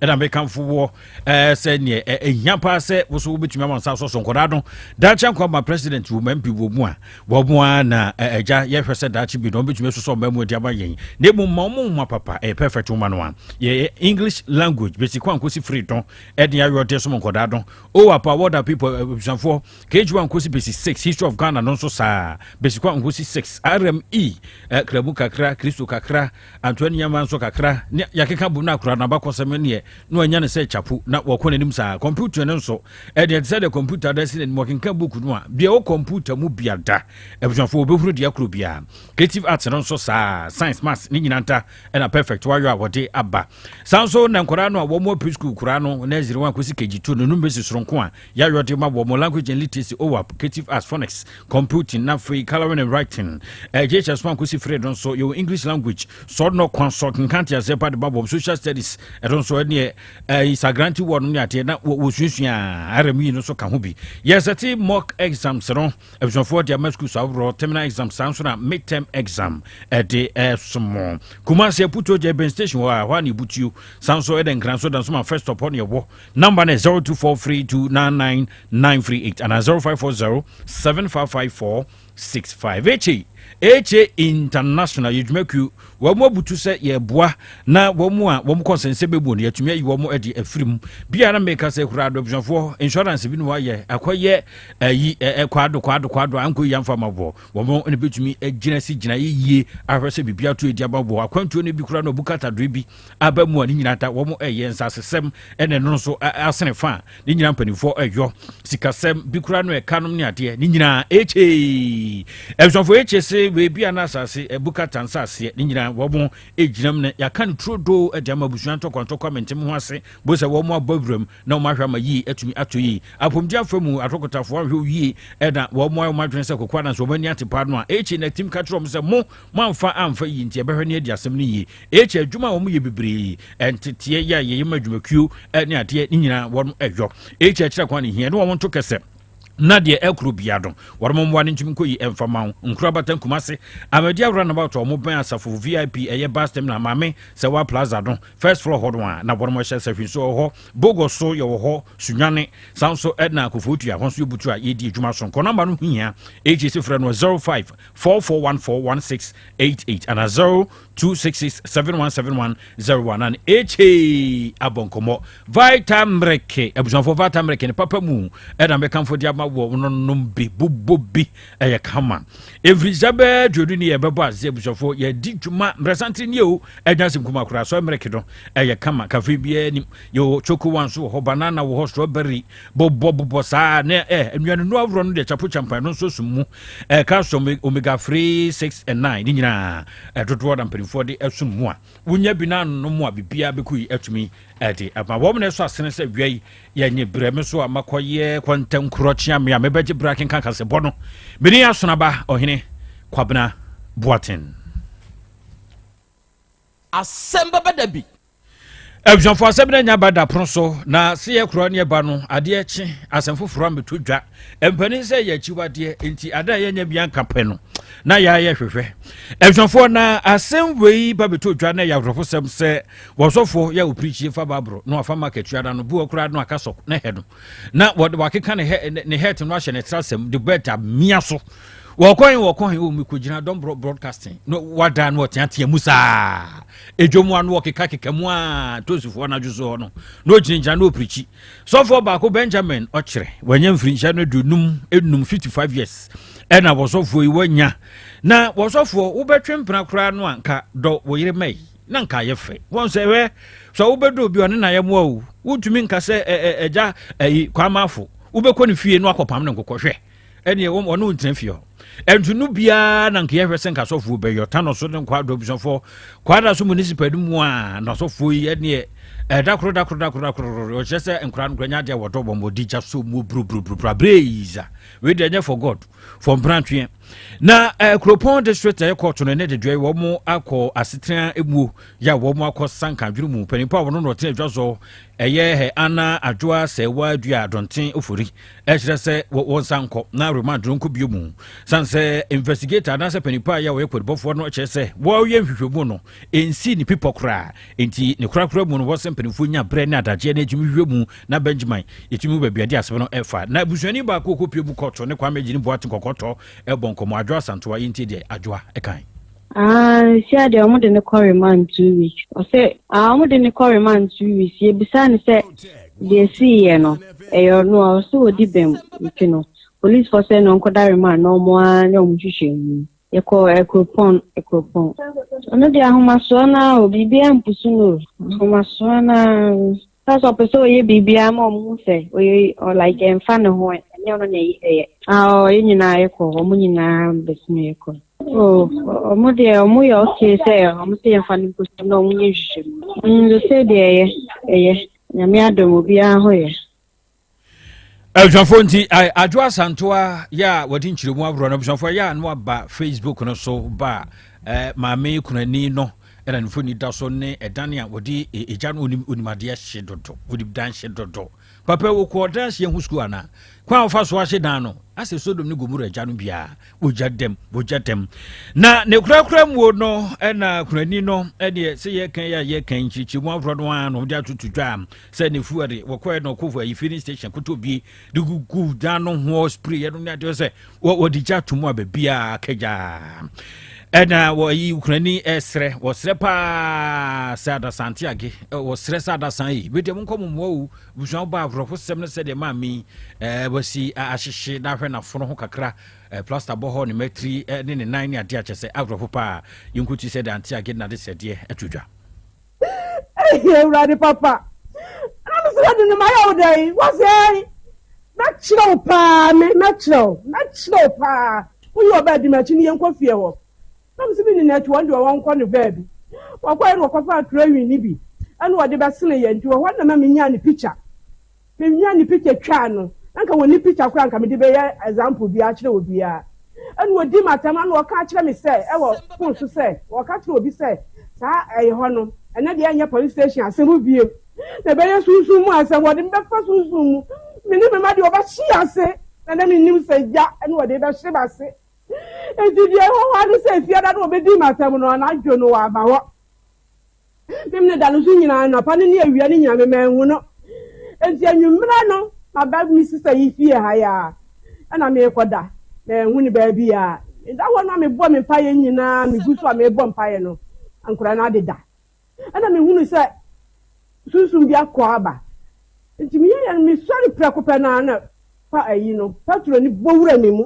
ɛna mekamfo woɔ eh, sɛ neɛ eh, ɛhia paa sɛ wo so wobɛtumi ama nsa so so nkɔdaa no daakye nkwa ma president wɔ ma mpi wɔ mu a wɔ mu a na eh, agya yɛhwɛ sɛ daakye bi na ɔbɛtumi asosɔ mma mu adi ama yɛn na ɛmu ma ɔmo nwoma papa ɛyɛ perfect woma no a yɛ english language bɛsi kɔ ankɔsi firi dɔn ɛde ayɔ de som nkɔdaa dɔn o apa wɔda people eh, abusuafoɔ kg one kɔsi bɛsi six history of ghana no nso saa bɛsi kɔ ankɔsi six rme eh, kramu kakra kristo kakra Antoa nneɛma nso kakra ne yɛakeka bom no akora n'abakɔsɛm neɛ na wanya no sɛ chapo na wɔkɔ n'anim saa. Kɔmputa no nso ɛdeɛ ɛte sɛ deɛ kɔmputa da si n'anim ɔkenka book no a bia wɔ kɔmputa mu bia da. Abusuafoɔ wɔbɛhunu deɛ koro bia. Creative arts no nso saa, science, maths ne nyina nta ɛna perfect wayɔ a wɔde aba. Saa nso na nkɔdaa no a wɔn wɔ preschool koraa no nursery 1 kɔsi KG2 no no bɛsi soronko a Yayɔde ma wɔ mo Language and Literacy, OAP, Creative Arts, Phonics, Computing, na afei Colouring and Writing. Ɛgye hyɛ so ankosi fire no nso, yɛwɔ English Language, sɔ no kwan so, kenkan nteaseɛ pa de ma wɔm, Social Studies, ɛno nso ɛneɛ ɛyi sagranti wɔ no ne adeɛ na wɔsuasua a, RME no nso ka ho bi. Yɛsɛte mock exams no, abusuafoɔ de ama schools ahoroɔ, terminal exam saa nso na midterm exam ɛde ɛsomo. Kumasi Aputuo gya Ebɛn Station hɔ a, hɔ a na yɛbutuo, saa nso ɛda Nkran so da nso ma first stop hɔ na yɛwɔ. Number no yɛ 0243299938 anaa 0540755465. HA HA International yɛ dwumakuo wɔn abutu sɛ yɛboa na wɔn a wɔn kɔnsɛnsɛ bɛmu no yɛatumi ayi wɔn adi afiri mu bia na meka sɛ kura adɔbusuafoɔ insurance bi no wayɛ akɔyɛ ayi ɛɛ kwado kwado kwado anko yi amfa ma bɔ wɔn ne bɛtumi agyina si gyina yie ahwɛ sɛ biribi ato edi ama bɔ akwantuo no bi kura no bukata doe bi aba mu a ne nyinaa da wɔn ɛyɛ nsasesɛm ɛna ɛno nso asene fa a ne nyinaa mpanimfoɔ ɛyɔ sikasɛm bi kura no ɛka nom ne adeɛ ne nyinaa ɛkyee ɛbusɔfoɔ ɛkyee se weebi a na asase ɛbuka ta nsaseɛ ne nyinaa wɔn ɛgyinam no yɛaka no turo doo ɛde ama abusua ntɔkɔntɔkɔ amentem ho ase bo sɛ wɔn abɔ awuram na wɔn ahwɛ ama yie atumi ato yie apɔmuden afa mu atɔkotafoɔ ahwɛ yie ɛna wɔn ayɛ wɔn adwene sɛ kokoa nanso wɔn ani ate paa no a ɛkyee na tim ka kyerɛ wɔn sɛ mo Moamfa amfa eyi nti ɛbɛhwɛ no adi asɛm no yie. Eekyɛ adwuma a wɔyɛ bebree, nteteɛ yɛ a yɛyɛ ma adwumakuo ne adeɛ ne nyinaa wɔn ɛyɔ. Eekyɛ akyerɛ kwan ne hia ne wɔn nto kɛsɛ na deɛ ɛkoro biara no wɔn mmoa no ntumi nkɔ yi ɛmfa ma wo. Nkuro abatan Kumasi, Ahmadiyya Roundabout a wɔbɛn Asafo VIP ɛyɛ bus terminal Maame Sɛwa Plaza no first floor hɔ no a na wɔn hyɛ sahwi nso wɔ hɔ. Bogo nso yɛwɔ hɔ, Sunyani, saa nso na Koforidua hɔ nso yɛ butu a yɛdi adwuma soronko. Nɔmba no ho hia, eekyɛ si frɛ no 05 four four one four one six eight eight and zero two six six seven one seven one zero one and HA abɔnkɔmɔ vita mmereke abusuafo vita mmereke ne papa mu ɛna mɛkanfo de ama wɔ nonom bi bobɔ bi ɛyɛ kama mfirisa bɛɛ duodu ne yɛbɛbɔ ase abusuafo yɛdi dwuma mmerɛsante ne o ɛnya asɛm kuma koraa so mmereke no ɛyɛ kama kafe biara nim yɛwɔ choco one so wɔ hɔ banana wɔ hɔ strawberry bobɔ bobɔ saa ne ɛ eh, nnuanenu ahorow no deɛ chapo champa ɛno nso sum mu ɛ eh, calcium omega three six and nine ne nyinaa ɛdodoɔ eh, na mpanimfoɔ de ɛsum mu a wonya bi na ano mu a biribiara bɛkɔ yi atumi ɛde ɛma wɔn na ɛsɔ asene sɛ wia yi yɛnye brɛ me so a makɔyɛ kwantankorɔ kyea me a mebɛgye brɛ akenka kasɛbɔ no mene asonaba ɔhene kwabena boaten asɛm bɛbɛ da bi abusuafoɔ asɛm no anya ba dapono so na se yɛ korɔ ne ɛba no adeɛ kye asɛm foforɔ ameto dwa mpani sɛ yɛ akyiwadeɛ nti ada a yɛnyɛ bia nka pɛ no na yɛayɛ hwehwɛ abusuafoɔ na asɛm wei ba bɛto dwa na ɛyɛ awerɛho sɛm sɛ wɔsɔfoɔ yɛ opirikyie fa baaboro na wafa ma katua no no boɔ koraa no aka sɔ ne hɛ no na wɔde wakeka ne hɛ ne hɛt no ahyɛ ne tra sɛm de bɛt amia so wɔkɔhe wɔkɔhe wɔ mekɔgyina dɔmborɔ broadcasting na wadaa no ɔteatea mu saa Edwa mu a na wɔkekakeka mu a Tosifoɔ anadwo so hɔ no, na ɔgyinagyina na ɔpirikyi. Sɔfoɔ baako, Benjamin, ɔkyerɛ, wanya mfirinhyia no aduonum enum, 55 years, ɛna wɔsɔfoɔ yi wanya. Na wɔsɔfoɔ, wobɛtwe mpena koraa no a nka dɔ wo yere mɛi, na nka ayɛ fɛ. Wɔn sɛ, hwɛ, sɛ wobɛdɔ obi ɔne na yɛmmoa o, wontumi nka sɛ ɛgya ayi kwaamaafo, wobɛkɔ ne fie na wakɔpam ne nkokɔ hwɛ. ɛneɛ wɔn ɔno ntena fie hɔ ɛnti no biara na nka yɛhwɛ sɛ nka asɔfoɔ bɛyɔ tano so ne nkwa adɔbusɔfoɔ kwada so municipal no mu a na asɔfoɔ yi ɛneɛ ɛda koro da koro da koro da koro ɔkyerɛ sɛ nkora no kora nya adeɛ wɔdɔ wɔn wɔdi gya so mu buruburuburuburu abereiza wei deɛ ɛnyɛ for god for mprantweɛ na eh, kuropɔn district ɛyɛ kɔɔto no ne dedeɛ wɔn akɔ asetena emuo yɛ a wɔn akɔ sanka adwene mu mpanimfoɔ a wɔn na ɔtena adwa so ɛyɛ hɛ ana adwoa sɛwa dua adɔnten ofori ɛkyerɛ sɛ wɔnsa nkɔ na remand no nkɔ bio mu sane sɛ investigator anaasɛ panipa yɛ a wɔyɛ kwadibɔfoɔ no kyerɛ sɛ wɔyɛ nhwehwɛmu no ɛnsii ne pipɔ koraa enti ne korakora mu no wɔ sɛ mpanimfoɔ nya berɛ ne adagyeɛ na ɛtumi hwehwɛ mu na benjamin ɛtumi mu baabi ade asɛm no ɛfa na abusuani baako ɔkɔpie mu kɔto ne kwame gyini boate kɔkɔtɔ ɛbɔ nkɔmmɔ adwoa santoa yɛntie deɛ adwoa ɛkan Ah, nsia deɛ wɔn de ne kɔ remand two weeks. Ɔsɛ ah wɔn de ne kɔ remand two weeks. Yɛbisa ne sɛ deɛ esii yɛ no ɛyɛ ɔno a ɔsɛ wɔdi bɛm nti no police fɔ sɛ na ɔnkɔda remand na wɔn ara na wɔn hwehwɛ mu. Yɛkɔ ɛkuropɔn eh, ɛkuropɔn. Eh, ɔno deɛ ahomasoɔ naa o biribi ampusu no o ahomasoɔ naa. That's why person oye bibi ama omu se oye or like en fa ne ho enye ono na eyi eye. Ah oh ye nyina ye ko omu nyina betumi ye ko. Oh omu de omu ye okay se omu se ye fa no nko so na omu nye nhwehwemu. Mm the say de eye eye nyame adom obiara ho ye. abusuafoɔ nti adwo asantoa yɛ a wɔde nkyerɛmu ahoroɔ no abusuafoɔ yɛ a no aba facebook no so ba a maame kunani no ɛna nifo ni da so ne ɛdan a wɔde egya no onimadeɛ hye dodo wɔde dan hye dodo papa wɔkɔ dan hye ho sukuu ana kwan a wɔfa so ahye dan no asɛ sodom ne gomora agya no biara wɔgya dɛm wɔgya dɛm na ne korakora muo no ɛna kunani no ɛdeɛ sɛ yɛkan yɛ a yɛkan nkyerɛkyerɛmu ahoroɔ no a na wɔde atoto dwa sɛ ne fu ɛde wɔkɔɛ na ɔkɔfo ayi filling station koto bie de gugu dan no ho spray yɛ no ne adeɛ sɛ wɔde gya to mu a baabiaa kagyaa ɛna wɔyi ukurani ɛsrɛ wɔsrɛ paa sɛ adasante age wɔsrɛ sɛ adasan yi bi deɛ monkɔ mo mmoa o busua wo ba awerɛho sɛm no sɛdeɛ maa mi ɛɛ wɔsi ahyehye na ahwɛ n'afono ho kakra ɛɛ plaster bɔ hɔ ne mɛtiri ɛne ne nan ne adeɛ akyɛ sɛ awerɛho paa yɛnkuti sɛ deɛ ante age na de sɛdeɛ ɛto dwa Eii Awurade papa, na me srɛ de no mayɛ wo dɛn? Wose ei, mɛkyerɛ wo paa, me, mɛkyerɛ wo, mɛkyerɛ wo paa, wo ne ɔbaa di m'akyi ne yɛnkɔ fie hɔ. Na me se me nim akyi hɔ deɛ wɔnkɔ no baabi. Wɔkɔɛ no wɔkɔfaa krewin no bi ɛna wɔde bɛsene yɛn nti wɔ hɔ na ma me nyaa ne picture. Me nua ne picture twaa no na nka wɔnni picture koraa nka mede bɛyɛ example biara akyerɛ obiara. Ɛna ɔdi me atɛm ɛna ɔka akyerɛ me sɛ ɛwɔ phone so sɛ ɔka kyerɛ obi sɛ saa ɛyɛ hɔ no ɛnɛ deɛ ɛnyɛ police station asɛm bio na ɛbɛyɛ sunsum mu asɛm wɔde me bɛfa sunsum mu me ne me mma deɛ wɔbɛhye yɛn ase na na mennim sɛ gya ɛna wɔde bɛhye m'ase enti deɛ ɛwɔ hɔ ara ne sɛ efie da na wɔbɛdi me atɛm no anadwo no wɔama hɔ. Memene da no nso nyinaa, anɔpa no ne awia no nyinaa me manhu no. Enti anwummerɛ no maba me sista yi fie ha yi ara ɛna merekɔ da, manhu no baabiara. Meda hɔ no a mebɔ me mpaeɛ nyinaa, megu so a merebɔ mpaeɛ no nkwadaa no adeda. Ɛna mehunu sɛ sunsum bi akɔ aba. Enti meyɛyɛ no mesɔre prɛko pɛ no ara na pa ayi no, patro no bɔ wura me mu.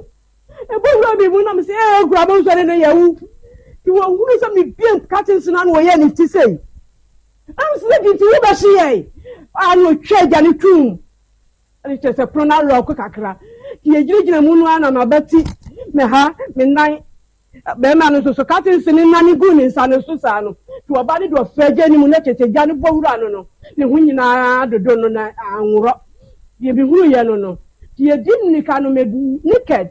Ɛbɔ wura me mu na me sɛ ee kura mo nsɔre no yɛ wo. Ti wɔn hunu sɛ me bie katin so na ano wɔyɛ ne ti sei. Ɛm sɛ di ti wo bɛ hye yɛ. Ano twɛ gya ne tum. Ɛne kyɛ sɛ pono na lɔɔko kakra. Ti yɛ gyina gyina mu no ana ma bɛ ti me ha me nan. Barima no nso so kate nse no nane guu ne nsa no so saa no, to ɔba no de ɔfra gya no mu na tete gya no bɔ wura no no, ne ho nyina ara dodo no na anworɔ. Deɛ mehunuiɛ no no, nti yɛdi mmirika no meduu naked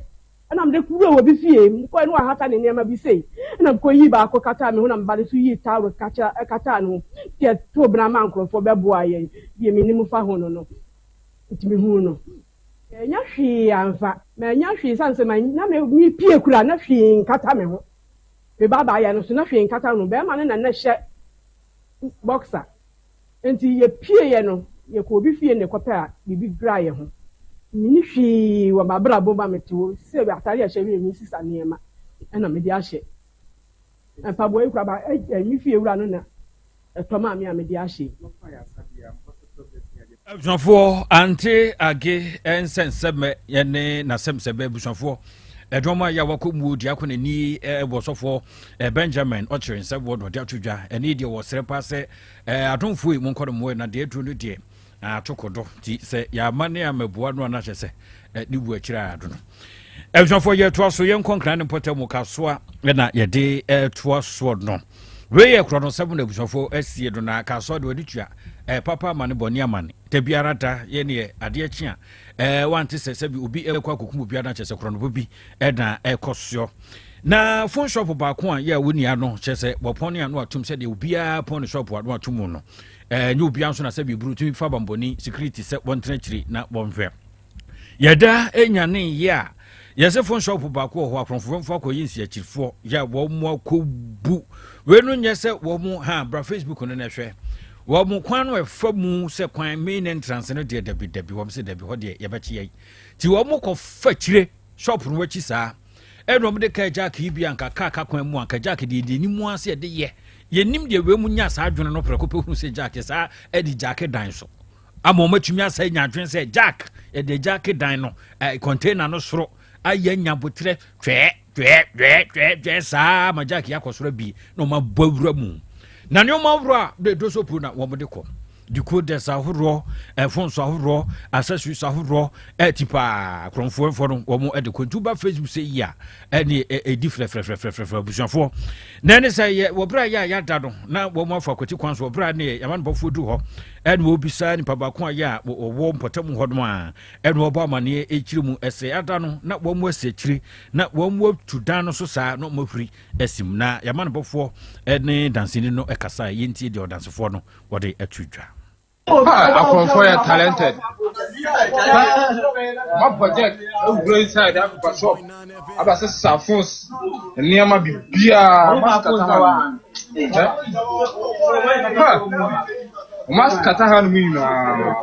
na mede kɔwuraa obi fie mu kɔɛ na wahata ne nneɛma bi sei na mekɔyii baako kataa me ho na meba no nso yii towel kakyera kataa no ho nti yɛtoo bena maa nkorɔfoɔ bɛboaa yɛn deɛ menim fa ho no no nti mehuu no. Ɛnyɛ hwee amfa. Mannya hwee esiane sɛ man na me mepie kura na hwee nkata me ho. Me baabaa yɛ no so na hwee nkata no. Bɛɛma no na na hyɛ boxer. Enti yɛpie yɛ no yɛkɔ obi fie na ɛkɔpɛ a biribi dwira yɛ ho. Meni hwee wɔ mabrabɔ mu a mete hɔ sɛ atare a ɛhyɛ wie me sisa nneɛma ɛna mede ahyɛ. Mpaboa yi koraa ba me fie wura no na ɛtɔ maa me a mede ahyɛ yi. Abusuafoɔ ante age nsɛnsɛmɛ ne n'asɛmsɛmɛ abusuafoɔ ɛdɔm a yɛ wakɔ muo di akɔ n'ani wɔ sɔfoɔ benjamin ɔkyerɛ nsɛm wɔ na ɔde ato dwa ɛne deɛ wɔsrɛ paa sɛ adomfoɔ yi mu nkɔ no mmoɛ na deɛ aduro no deɛ atoko do nti sɛ yɛama ne amaboa no a na kyɛ sɛ ne wu akyiri a yɛado no abusuafoɔ yɛtoa so yɛnkɔ nkra ne mpɔtam mu kasoa na yɛde toa soɔ no wei yɛ korɔ no sɛm na abusuafoɔ asie no na kasoa de wɔde tua papa ama ne bɔne ama ne da biara da yɛ neɛ adeɛ kye a wante sɛ sɛbi obi ɛkɔ akɔkum obiara no akyɛ sɛ korɔnobo bi ɛna ɛkɔ soɔ na phone shop baako a yɛ wo nua no kyerɛ sɛ wɔpɔn ne ano atom sɛdeɛ obiara pɔn ne shop ano atom no Ɛnyɛ obiara nso na sɛbi eburu tumi fa bambɔni security sɛ wɔntena akyiri na wɔnhwɛ. Yɛda enya ne yɛ a yɛsɛ fon shop baako wɔ hɔ akorɔmfoɔ mfa akɔyɛ nsiakyirifoɔ yɛ wɔn akɔbu wei no nyɛ sɛ wɔn ha bra facebook no na ɛhwɛ wɔn kwan no ɛfa mu sɛ kwan main entrance no deɛ dabi dabi wɔn sɛ dabi hɔ deɛ yɛbɛkye yɛ ti wɔn kɔ fa kyire shop no akyi saa ɛna wɔn de kaa jack yi bi anka kaa ka kwan mu anka jack deɛ deɛ ne mu ase ɛde yɛ Yɛnnim deɛ wei mu nyaa saa adwene no prɛko pɛ hunu sɛ Jack yɛ saa ɛde Jack dan so ama wɔn atumi asɛ nya adwene sɛ Jack yɛde Jack dan no ɛɛ container no soro ayɛ anya botrɛ twɛɛ twɛɛ twɛɛ twɛɛ twɛɛ saa ma Jack yɛ akɔ soro abie na wɔn abɔ awura mu na nneɛma ahorow a de dosopo na wɔn de kɔ decoders ahoroɔ eh, phones ahoroɔ accessories ahoroɔ ɛti eh, paa kurɔnfoɔfoɔ no wɔn ɛde kɔ nti woba facebook sɛ yi a ɛne ɛdi frɛfrɛfrɛfrɛfrɛ abusuafoɔ na ɛne sɛ yɛ wɔbrɛ yɛ a yɛada no na wɔn afa akwati kwan so wɔbrɛ ne yɛ yamanbɔfoɔ du hɔ ɛne wɔbisa nipa baako a yɛ a wɔwɔ mpɔtam hɔ nom a ɛne wɔbɔ amaneɛ ɛkyiri mu ɛsɛ ada no na wɔn asi akyiri na wɔn atu dan no so saa na wɔn ahuri asim na yamanbɔfoɔ ɛne dansini no ɛkasa yɛntie deɛ ɔdansefoɔ no wɔde ato dwa. Ah, akɔmfo yɛ talented. Ma project ewura inside akɔfa shop. Aba sɛ sa phones, nneɛma bibia, ma skata ha no. Eh? Ha. Ma skata ha no mu nyinaa.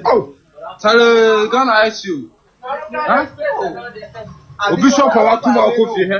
Oh, tale Ghana ICU. Ha? Obi shop a wato ma akɔ fie hɛ.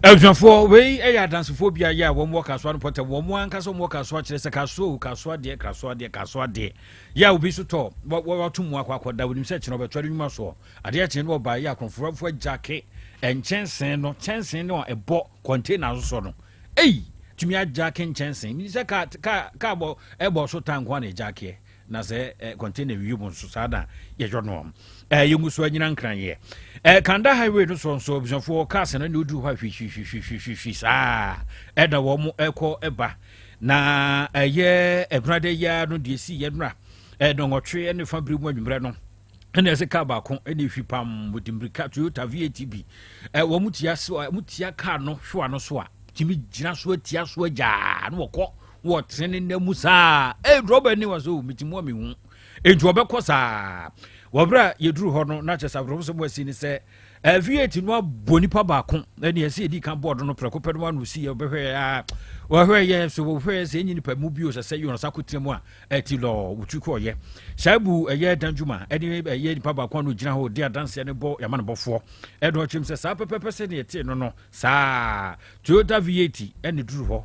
Abusuafoɔ, wei yɛ adansefoɔ bi ayɛ a wɔn wɔ kasoa no pɔtɛm, wɔn ankasa wɔn wɔ kasoa kyerɛ sɛ kasoa o, kasoa deɛ, kasoa deɛ, kasoa deɛ. Yɛ a obi nso tɔ, wɔato mu akɔ akɔda, wɔnim sɛ kyerɛ ɔbɛtoa ne nnwuma soɔ. Adeɛ kyee no ɔbaa yɛ a kɔnfrɔfoɔ agyake nkyɛnsee no, kyɛnsee no a ɛbɔ kɔntena no so no. Ei! Tumi agyake nkyɛnsee, menim sɛ kaa, kaa, kaa bɔ, ɛbɔ so tanko a na ɛgyakeɛ. na sɛ eh, container wie mu nso saa na yɛyɔ no eh, yɛngu so anyina nkran yɛ eh, kanda highway no soɔ nso abusuafoɔ cars no ne woduru hɔ a hwihwihwihwihwihwi saa ɛna wɔn mo ɛkɔ ɛba na ɛyɛ ɛnurada yi ara no deɛ si yɛ nura ɛnɔnwɔtwe ne fa bere mu anwummerɛ no ɛna ɛsɛ kaa baako ɛna ehwi pam wɔde mmirika toyota vat bi ɛ wɔn tia so wɔn tia kaa no hwewa no so a tumi gyina so atia so agyaa na wɔkɔ. wɔte ne nna mu saa ee drɔba ani wɔ so mete mu a mehu nti wɔbɛkɔ saa wɔberɛ a yɛduru hɔ no na kyɛ sɛ awerɛho sɛ mu asi ne sɛ aviate no abɔ nipa baako ɛne ɛsɛ yɛdi ka bɔɔdo no prɛko pɛ no ano si wɔbɛhwɛ a wɔhwɛ yɛ so wɔhwɛ sɛ ɛnyi nipa mu bio sɛ sɛ yɔn sa kɔtena mu a ɛti lɔ wotwi kɔɔyɛ saa bu ɛyɛ dan dwuma ɛne ɛyɛ nipa baako ano gyina hɔ di adanseɛ no bɔ yɛma no bɔfoɔ ɛdɔ kyerɛm sɛ saa pɛpɛpɛ sɛ ne ɛte no no saa toyota v8 ɛne duru hɔ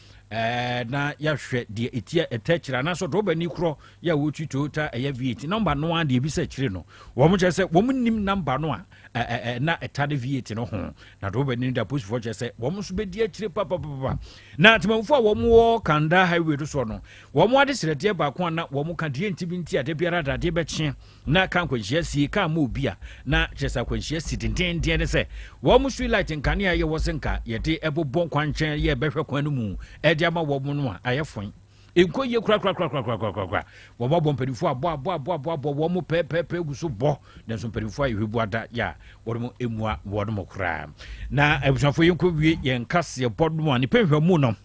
ɛɛ na yɛahwɛ deɛ ɛtia ɛtɛ akyire anaasɛ drɔba ni korɔ yɛ a wɔtwi toyota ɛyɛ v8 nɔmba no a deɛ ɛbi sɛ akyire no wɔn kyerɛ sɛ wɔn nim nɔmba no a ɛɛ na ɛta ne v8 no ho na drɔba ni da posifoɔ kyerɛ sɛ wɔn nso bɛdi akyire papapapa na atemamufoɔ a wɔn wɔ kanda highway do soɔ no wɔn ade srɛdeɛ baako a na wɔn ka deɛ nti bi nti adeɛ biara dadeɛ bɛkye Na ka nkwanhyia si ka ma obi a, na kyerɛ sɛ akwanhyia si dendennden ne sɛ wɔn street light nkanea a ɛyɛ wɔ sɛ nka yɛde bobɔ nkwankyɛn yɛ bɛhwɛ kwan no mu de ama wɔn no a ayɛ foe. Nkɔ yie korakorakorakorakorakorakora. Wɔbɔbɔ mpanimfoɔ abɔ abɔ abɔ abɔ abɔ wɔn mo pɛɛpɛɛpɛɛ gu so bɔ nanso mpanimfoɔ a yɛhwɛ bu ada yɛ a wɔn mo mmua wɔn mo koraa. Na abusuafoɔ yɛnkɔ wie yɛn kaseɛbɔ no a ne pɛnhwɛmu no.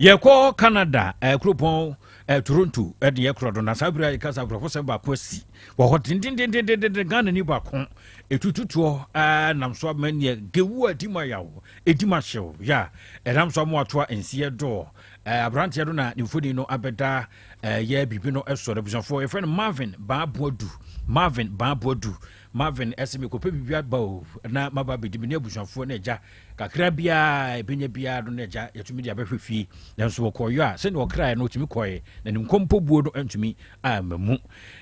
yɛkɔ canada eh, kuropɔn eh, toronto eh, de yɛkorɔ do na saa berɛ a yɛka sa akorɔfosɛm baako asi wɔ hɔ dendendendendenden ghana ni baako ɛtututoɔ eh, nam so ama neɛ gewu a ɛdi ma yaw ɛdi ma hyew ya ɛnam so ama watoa nsiɛ doɔ eh, aberanteɛ do na ne mfoni no abɛda eh, yɛ biribi no ɛsɔ no abusuafoɔ yɛfrɛ no marvin baaboadu marvin baaboadu Marvin se, Mekɔpɛ biribi aba o, na maba abɛdi me ne abusuafoɔ ne agya kakra biara ɛbɛnya biara no ne agya yɛtumi de abɛhwɛ fie. Nanso wɔkɔɔyɔ a, sɛdeɛ ɔkraeɛ no ɔtumi kɔeɛ, na ne nkɔmpɔ buo no antumi amma mu.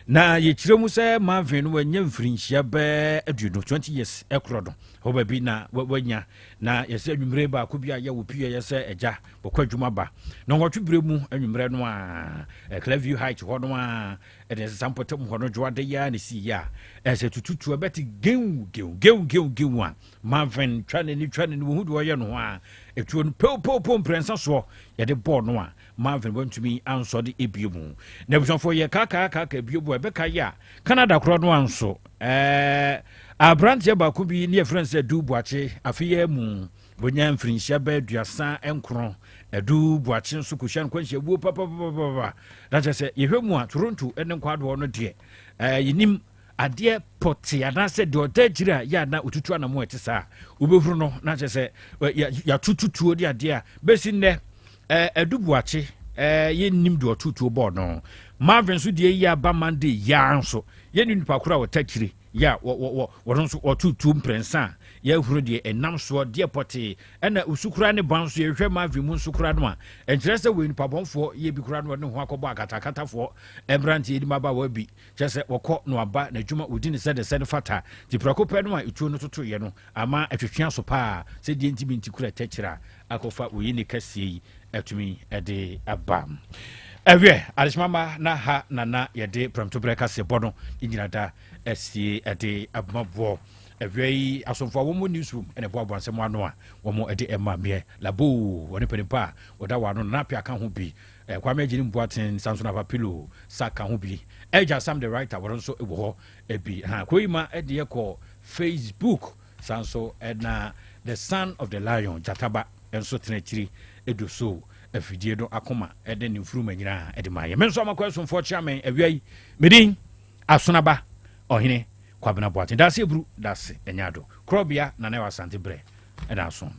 Na yɛkyerɛ mu sɛ Marvin no wanya mfirinhyia bɛɛ aduonu, 20 years, korɔ no hɔ baabi na wanya. Na yɛsɛ anwummerɛ baako bi a yɛ wɔ pii a yɛsɛ agya wɔkɔ adwuma ba. Na ɔwɔtwe berɛ mu anwummerɛ no a, Clearview Heights hɔ no a, Ɛde nsa mpɔtam hɔ no dwo ade yi ara na ɛsii yɛ a, ɛsɛ tututu a bɛte gew gew gew gew gew a, Marvin twa n'ani twa n'ani wɔhu deɛ ɔyɛ no ho a, ɛtuo no pow pow pow mprɛnsa soɔ yɛde bɔɔ no a, Marvin wantumi ansɔ de ebue mu. Na abusuafoɔ yɛ kaakaa kaakaa bue mu a ɛbɛka yɛ a, Canada korɔ no a nso, ɛɛ, aberanteɛ baako bi ne yɛfrɛ no sɛ Dubuakye, afe yi ara mu, Bonya mfirinhyia bɛyɛ aduasa nkron adu boakye nso kɔhyia no kwanhyia wuo papapapapa na kyɛ sɛ yɛhwɛ mu a toronto ne nkwadoɔ no deɛ eh, yɛnim adeɛ pɔte anaasɛ deɛ ɔda akyiri a yɛ ana ɔtutu anamo ɛte saa wobɛhunu no na kyɛ sɛ yɛatototuo de adeɛ a bɛsi nnɛ eh, adu boakye eh, yɛnnim deɛ ɔtotuo bɔɔ no marvin nso deɛ yi aba monday yaa nso yɛne nipa koro a ɔta kyire Yɛ a wɔ, wɔ, wɔ, wɔn nso wɔto tuo mprɛnsa a yɛahuro deɛ ɛnam soɔ deɛ pɔtee, ɛna osu koraa ne ban nso yɛhwɛ Marvin mu nso koraa no a, ɛnkyerɛ sɛ wɔyɛ nipa bɔnfoɔ yɛ bi koraa no wɔde ho akɔbɔ akatakatafoɔ mmeranteɛ de mmabaawa bi, kyerɛ sɛ wɔkɔ no aba n'adwuma wɔdi ne sɛdeɛ sɛ no fata, nti prɛko pɛ no a etuo no totoeɛ no ama ɛtwetwe aso paa, sɛ deɛ nti bi nti kura tɛkyerɛ a akɔfa oyi ne kɛseɛ yi atumi de aba ɛwiɛ adehyema ma na ha na na yɛde prɛmto berɛ kaseɛ bɔ no nyina da asie ɛde abamaboɔ ɛwiɛ yi asomfoɔ a wɔn mu newsroom ɛna ɛboaboa nsɛm ano a wɔn ɛde ɛma meɛ labo wɔne panimpa a wɔda wɔn ano na apia ka ho bi eh, kwame agyini mboaten sanso na papilo sa ka ho bi ɛgya sam the writer wɔn nso wɔ hɔ ebi ha kuro yi ma ɛde ɛkɔ facebook Saa ara nso na The Son of the Lion, Gyata Ba, nso tena akyiri du so afidie no akoma de ne mfuruma nyinaa de maeɛ. Me nso Amakɔ Asomfoɔ kyea me awia yi. Me din Asonaba Ɔhene Kwabena Boateng. Daase Aburu, Daase Anyado. Korɔbea Nanawa Asante Berɛ na aso no.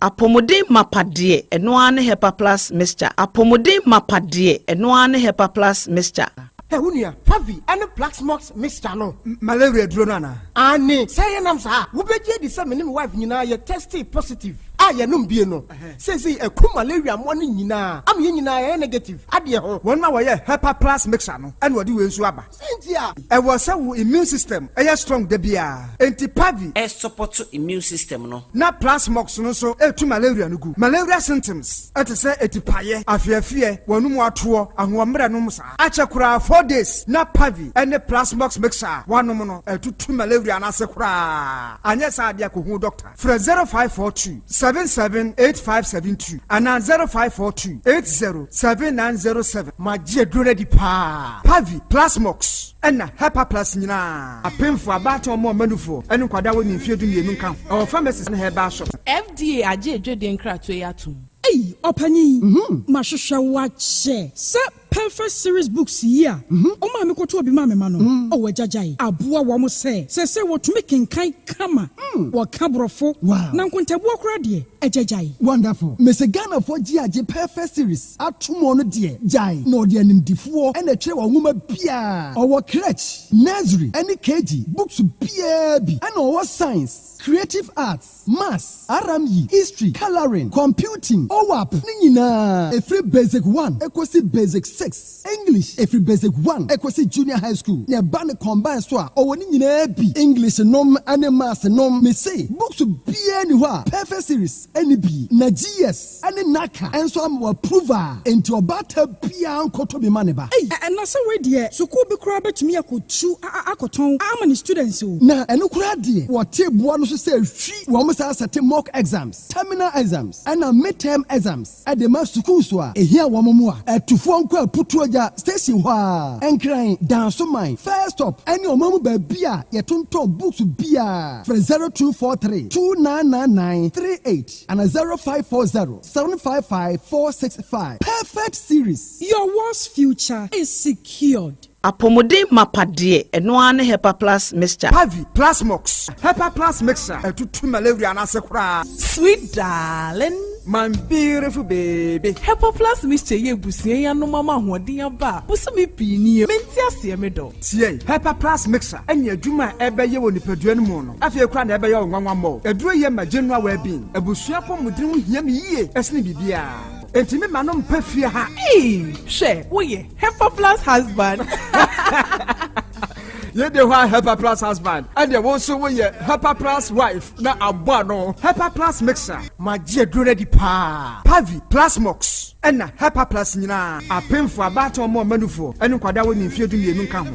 Apɔmuden mapa deɛ ɛno ara ne Hepa Plus Mixture Apɔmuden mapa deɛ ɛno ara ne Hepa Plus Mixture. Hɛ wo nua, Favi ɛne Plaxmox Mixture no. Malaria duro no anaa? Aane, sɛ yɛ nam saa a, wo bɛ gye adi sɛ me ne me wife nyinaa yɛ tɛstee positive a yɛ nom bie no. Seisei ɛku malaria mmoa no nyinaa ama yɛ nyinaa yɛ yɛ negative adeɛ ho. Wɔn na wɔyɛɛ Hepa Plus Mixture no ɛna wɔde wei nso aba. Cynthia, Ɛwɔ sɛ wo immune system yɛ strong da biara. Enti Pavi. Sɔpɔto immune system no. Na Plasmox no nso tu malaria no gu. Malaria symptoms te sɛ atipaeɛ, afeɛfeɛ, w'anomu atoɔ, ahoɔmmerɛ nom saa. Akyɛ koraa four days na Pavi ne Plasmox mixture a woanom no atutu malaria no ase koraa. Anyɛ saa deɛ kɔhu doctor. Frɛ 0542 778572 anaa 0542 807907 ma agye aduro no adi paa. Pavi, Plasmox, ɛna Hepaplus nyinaa, apemfoɔ, abaatan, ɔmo a wɔn anufoɔ ne nkwadaa a wɔnni mfeɛ dumienu nka ho, ɛwɔ pharmacies ne herbal shops. FDA agye adwadie nkratoɔ yi atom. Ei ɔpanyin, mahwehwɛ wo akyɛ sɛ Perfect Series Books yi a ɔma a mekɔtɔɔ bi maa me mma no, wɔagyagyae, aboa wɔn sɛ seesei wɔtumi kenkan kama, wɔka Borɔfo, na nkontabuo koraa deɛ, agyagyae. Wonderful! Mese Ghanafoɔ gye agye Perfect Series atom ɔno deɛ, gyae, na ɔde animdefoɔ na ɛtwerɛ wɔn nwoma biara. Ɔwɔ Creche, Nursery, ne KG, Books biara bi, ɛna ɔwɔ Science, Creative Arts, Maths, Aramyi, History, Colouring, Computing, OAP no nyinaa ɛfiri Basic One ɛkɔsi Basic Six, English ɛfiri Basic One ɛkɔsi Junior High School na ɛba no combine so a ɔwɔ ne nyinaa bi, English nom ne Maths nom. Mese books biara nni hɔ a Perfect Series nni bi na GS. ne Naka nso ama wɔ approve a enti ɔbaata biaa nkɔtɔ bi ma ne ba. Ei! Ɛna sɛ wei deɛ sukuu bi koraa bɛtumi akɔ tu a akɔtɔn ama ne students o. Na ɛno koraa deɛ wɔtee boɔ no so sɛ hwi wɔn saa sɛte mock exams, terminal exams ɛna midterm exams de ma sukuu so a ɛhia wɔn mu a atufoɔ nko a putuo gya station hɔ ara, Nkran, Dansoman, First Stop ɛne ɔman mu baabi a yɛtontɔn books biaa frɛ 0243 2999 38. Ana zero five four zero seven five five four six five perfect series. Your world's future is secured. Apɔmuden mapa deɛ ɛno ara ne Hepa Plus Mixture. Pavi Plus Mox, Hepa Plus Mixture, ɛtutu malawria no ase koraa. Sweet darling. My beautiful baby. Hepa Plus Mixture yɛ abusua yi anom ama ahoɔden aba a bosome pii nie. Mente aseɛ me dɔ. Tiei, Hepa Plus Mixture. ne adwuma a ɛbɛyɛ wɔ nipadua no mu no, afei koraa na ɛbɛyɛ wo nwanwa mmɔ wo. Aduro yɛ ma general well being. Abusua apɔmuden ho hia me yie sene biribiara. Enti me mma no mpa fie ha. Eii hwɛ woyɛ Hepa plus husband. Yei de hwan Hepa plus husband? Ɛdeɛ wo nso woyɛ Hepa plus wife na abɔ ano. Hepa plus mixer. Magye aduro no adi paa. Pavi, Plasmox, ɛna Hepa plus nyinaa. Apemfoɔ, abaatan mmoa, mmanufoɔ, ɛne nkwadaa a wɔnni mfeɛ dumienu nka ho.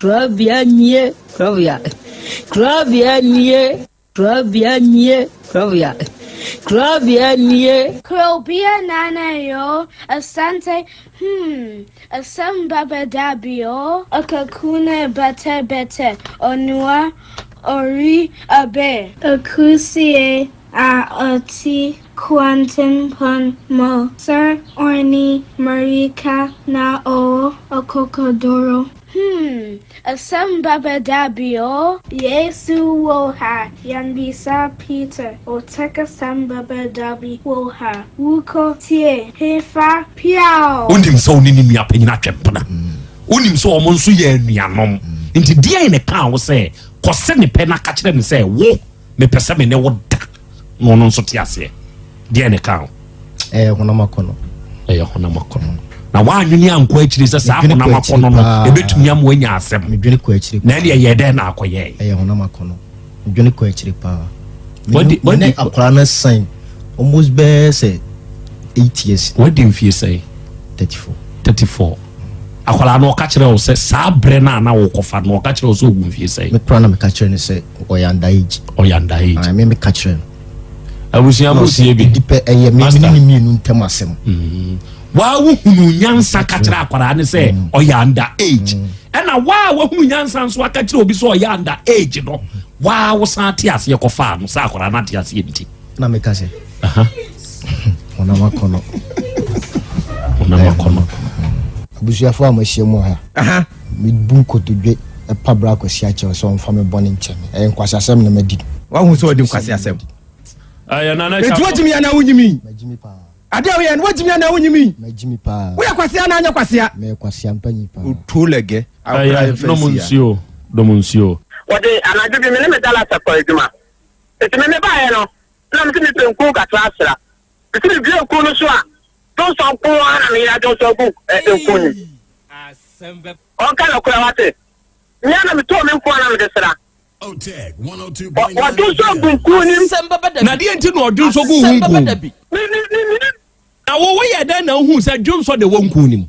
Krabea nie, krabea, krabea nie, krabea nie, krabea, krabea nie. Krabea nana yo, asante, hmm, asɛm ba bɛda bio. Akaku ne bɛtɛ bɛtɛ, ɔnoa, ɔri, abe. Akusie a ɔti Kwantempan mu. Sɛ ɔne Marika na ɔwɔ ɔkɔkɔduro. Hmm, asɛm ba bɛ da bi o. Yesu wɔ ha, yɛn bisa Peter o tɛk asɛm ba bɛ da bi wɔ ha, wo kɔ tie he fa piaw. Wonim sɛ wo ne ne nua panyin atwe mpena. Wonim sɛ wɔn nso yɛ anuanom. Nti deɛn na ɛkaa wo sɛ kɔ se ne pɛ na ka kyerɛ no sɛ wo. mepɛ sɛ me ne wo da na ɔno nso te aseɛ deɛ ne ka ho ɛyɛ honam akɔnɔ ɛyɛ honam akɔnɔ na woanwene ankɔ akyiri sɛ saa honam akɔnɔ no ɛbɛtumi ama woanya asɛm na ɛne ɛyɛ dɛn na akɔyɛe ɛyɛ honam akɔnɔ medwene kɔ akyiri paa mene akwara no san almost bɛɛ sɛ 8 years wadi mfie sɛe 34 34 Akwadaa no, ɔka kyerɛɛ wo sɛ saa berɛ no a na wokɔfa no, ɔka kyerɛɛ wo sɛ ɔwɔ mfie sɛn? Me koraa na meka kyerɛɛ no sɛ ɔyɛ under age. Ɔyɛ under age? Ae, me meka kyerɛɛ no. Abusua mo tie bi. Ɛdi pɛ ɛyɛ me ne ne mmienu ntam asɛm. Mm-hmm. Waa wohunu nyansa ka kyerɛ akwadaa no sɛ mm. ɔyɛ under age. Mm. Ɛna waa wohunu nyansa nso aka kyerɛ obi sɛ ɔyɛ under age no, waa wosan ate aseɛ kɔfaa no sɛ akwadaa no ate aseɛ nti. na meka sɛ honam akɔnɔ honam akɔnɔ abusuafoɔ a mahyia mu ha mebu nkotodwe ɛpa bra kwasi akyɛw sɛ ɔmfa me bɔne nkyɛ me ɛyɛ nkwasi asɛm na madi wahu sɛ ɔde nkwasi asɛm ɛtu wagyimi anaa wonyimi ade a woyɛ no wagyimi anaa wonyimi woyɛ kwasea anaa nyɛ kwasea ɔtuo lɛgɛ dɔm nsuo wɔde anadwo bi me ne me dalasa kɔ adwuma Enti me mebaeɛ no, na mese mepɛ nkuo nkatrasra. Mese medua nkuo no so a, dwonsɔ nko ara na meyera dwonsɔ gu nkuo no mu. Ɔnka nokorɛ, wate? Me ara na metɔɔ me nkuo a na mede sra. Wɔdwonsɔ gu nkuo no mu. Na deɛ nti na wɔdwonsɔ gu wo nkuo mu? Na wo, woyɛɛ dɛn na wohuu sɛ dwonsɔ de wɔ nkuo no mu?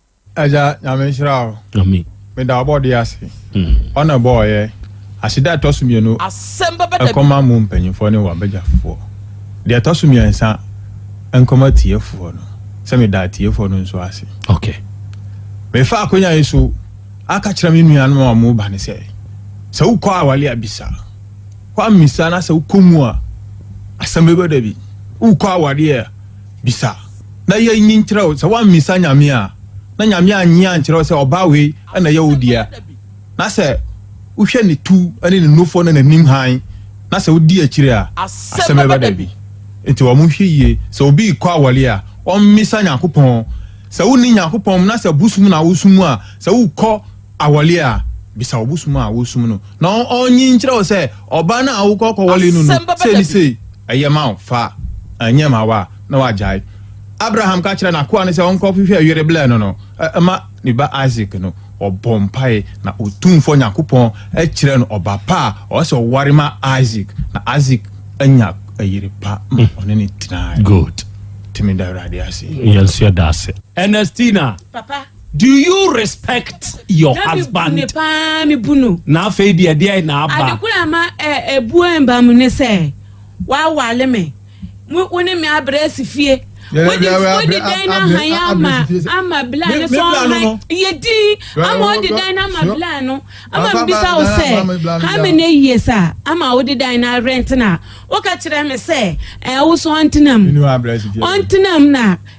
Agya nyame nhyira o. Amen. Meda ɔbɔde ase. Mm. Ɔna ɛbɔɔ yɛ. Aseda ɛtɔ so mmienu. Asɛm bɛbɛ da bi. Ɛkɔma mo mpanyinfoɔ ne wɔn abɛgyafoɔ. Deɛ ɛtɔ so mmiɛnsa ɛnkɔma tiefoɔ no. Sɛ meda atiefoɔ no nso ase. Okay. Mefa akonya yi so aka kyerɛ me nuanom a wɔn ba ne sɛ sɛ wokɔ awale abisa kɔ amisa na sɛ wokɔ mu a asɛm bɛbɛ da bi wokɔ awale a Bisa, na yɛ nyi nkyerɛ wo, sɛ woammisa Nyame a, na Nyame annye annkyerɛ wo sɛ ɔbaa wei na ɛyɛ wo dea, na sɛ wohwɛ ne tu ne ne nufoɔ ne n'anim hann, na sɛ wodi akyire a, asɛm bɛba dabi. Enti wɔn nhwɛ yie, sɛ obi rekɔ awɔreɛ a, ɔmmisa Nyankopɔn, sɛ wonni Nyankopɔn na sɛ bosom na wosom a, sɛ wokɔ, awɔle a, bisa ɔbosom a wosom no, na ɔnye nkyerɛ wo sɛ, Ɔbaa no a wokɔ kɔwɔle no no, sei ne sei, ɛyɛ ma wo, fa, ɛnnyɛ ma wo a, na wagyae. Abraham ka kyerɛɛ n'akoa no sɛ ɔnkɔhwehwɛ yere blɛɛ no no, ɛma ne ba Isak no, ɔbɔɔ mpae, na Otumfoɔ Nyankopɔn kyerɛɛ no ɔba pa a ɔwɔ sɛ ɔware ma Isak, na Isak nya yere pa ma ɔne no tenae. Good. Tumi da Awurade ase. Yɛn nso yɛda ase. Ernestina. Papa. Do you respect your Dabi husband? bu ne paa mebu no. Na afei deɛ ɛdeɛn na aba? Ade koro a ɛma ɛ ɛbuo ɛmba mu ne sɛ wawale me. Mo wo ne me abrɛ asi fie. Yɛne Wodi abrɛ- abrɛ- wodi dan no abrɛ- ahan abrɛ ama asi fie sɛ- ama Me- blaa no me so blaa no ahan. no. Yɛ din Blaa ama no, wodi blaa- dan no ama sure. blaa no. Ama Papa, mbisa blaa wo no, blaa no, blaa sɛ no, how blaa many no. years a ama wode dan no arent no a woka kyerɛ me sɛ ɛwoso ɔntena mu. Mene wo abrɛ asi fie. Ɔntena mu na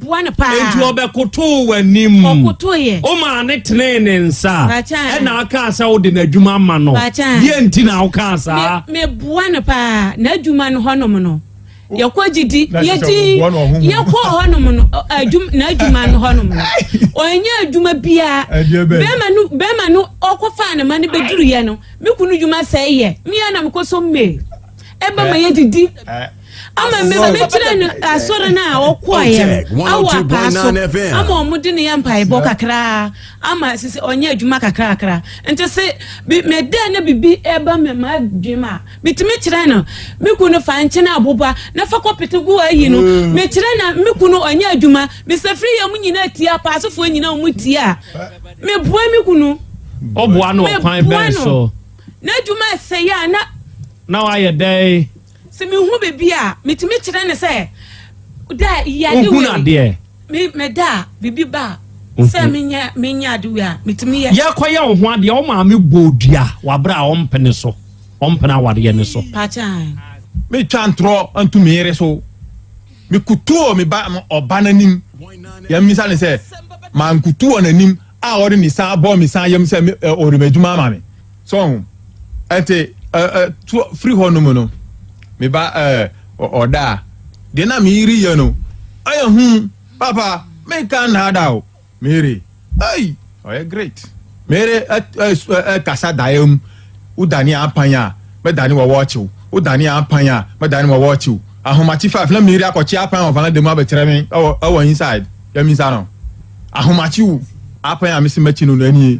Boa no paa. Enti ɔbɛkotoo w'anim. Ɔkotoeɛ. Womaa no tenee ne nsa. Pakyɛ. Ɛnna wokaa sɛ wode n'adwuma ama no. Pakyɛ. Deɛn nti na wokaa saa? Me, meboa no paa. N'adwuma no hɔnom no, yɛkɔ gyidi. Na ɛsɛ sɛ Yɛdi, woboa no ɔhonhom. yɛkɔɔ hɔnom no, ɔ- adwum, n'adwuma no hɔnom no, ɔnyɛ adwuma biara. Ɛdeɛ bɛn? Bɛrima no, bɛrima no ɔkɔfaa ne ma no bɛduruiɛ no, me kunu dwuma sɛeɛ. Me ara na mekɔsɔ mmee. Ɛba ma yɛdidi. Ɛ, ama mɛtena no asɔre no a ɔkɔɔeɛ no awɔ apaa so ama ɔmo de ne yɛ mpaebɔ kakraa ama sisi ɔnyɛ adwuma kakrakra nti se mɛdɛ na bibi ɛba me ma adwuma a metumi kyerɛ no me kunu fa nkyene aboba na fa kɔpete gu ayi no mm. mekyerɛ na me kunu ɔnyɛ adwuma mesɛ firi yɛ mo nyina tie apaasofoɔ nyina ɔmo tie a meboa me kunu ɔboa no ɔkwan bɛn so na adwuma ɛsɛ yɛ a na na wayɛ dɛn Sɛ mehu biribi a, metumi kyerɛ no sɛ, Da a yɛ ade wei. Me, meda a, biribi ba a, mhm. sɛ menyɛ menyɛ ade wei a, metumi yɛ. Yɛkɔyɛ wo ho adeɛ, wo maame bɔ dua wabere a ɔmpene so, ɔmpene awadeɛ no so. Pakyan. Metwa ntorɔ nto me yere so. Mekutoo me ba ɔba n'anim. Yɛmmisa ne sɛ, mankutu wɔ n'anim a ɔde ne san bɔ me san yam sɛ ɔde m'adwuma ama me. So ho? Ɛte, ɛ, ɛ, to, firi hɔ nom no, me ba, ɛ, ɔ, ɔda a, deɛ na me yere yɛ no, ɛyɛ hu, papa, me ka nna da o, me yere, ei, ɔyɛ great, me yere, ɛ, ɛ, ɛ, ɛ, kasa daeɛ mu, wo dane a apan a, mɛ dane wɔ wɔɔkye wo, wo dane a apan a, mɛ dane wɔ wɔɔkye wo, ahomakye five, na me yere akɔkye apan wɔ vanada mu abɛkyerɛ me, ɛwɔ, ɛwɔ inside, yɛ me nsa no, ahomakye o, apan a me se mɛkye no no, ɛnie.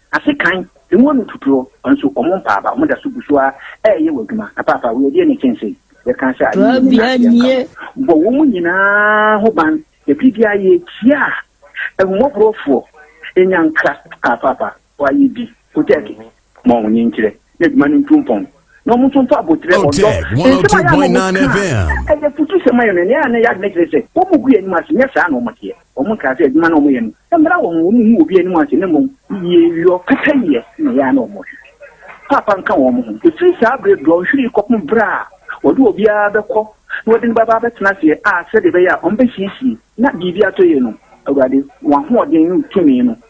Na sekan, ngo no tuturo, nso wɔn mpa aba, wɔn da so gu so ara reyɛ wɔn adwuma. Na paapa, wei ɛdeɛ na ɛkyɛn sei? Yɛka sɛ adeɛ nyinaa nyinaa ase yɛnka ho. Bɔ wɔn nyinaa ho ban, na bere biara yɛrekyia ahummɔborɔfoɔ, ɛnya nkra. Kaa paapa, wayɛ bi, Kotɛɛke, ma wɔn nkyerɛ, na adwuma no ntu mpɔn. na wɔn nso nfa abotire ɔdɔ nsɛm a yɛ a wɔn kaa ɛyɛ futu sɛm ayɛ no nea ne yɛ adi ne kyerɛ sɛ wɔn gu yɛ anim ase nyɛ saa na wɔn teɛ wɔn nkaa sɛ adwuma na wɔn yɛ no ɛmmra wɔn ho wɔn hu obi anim ase na mmom yie yɔ pɛpɛ yɛ na yɛ a na wɔn hwehwɛ paapa nka wɔn ho efiri saa bere dorɔ nhwiri kɔpem bere a wɔde obiara bɛkɔ na wɔde no bɛba abɛtena aseɛ a sɛdeɛ ɛbɛyɛ a wɔn bɛsiesie na biribi atɔ yie no awurade wɔn ahoɔden ne tumi no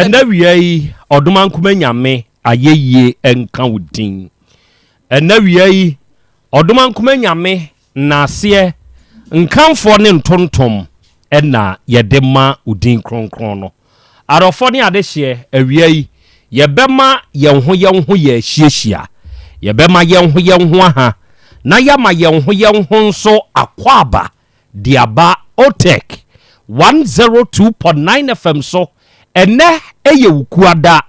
Ɛnɛ wia yi ɔdomankoma nyame ayɛyie nka wo din ɛnɛ wia yi ɔdomankoma nyame naaseɛ nkamfoɔ ne ntontom ɛna yɛde ma wo din kronkron no arɔfɔ ne adehyeɛ awia yi yɛbɛma yɛn ho yɛn ho yɛ ahyiahyia yɛbɛma yɛn ho yɛn ho aha na yɛama yɛn ho yɛn ho nso akɔ aba De aba Otech one zero two point nine FM so, ɛnnɛ yɛ Wukuada.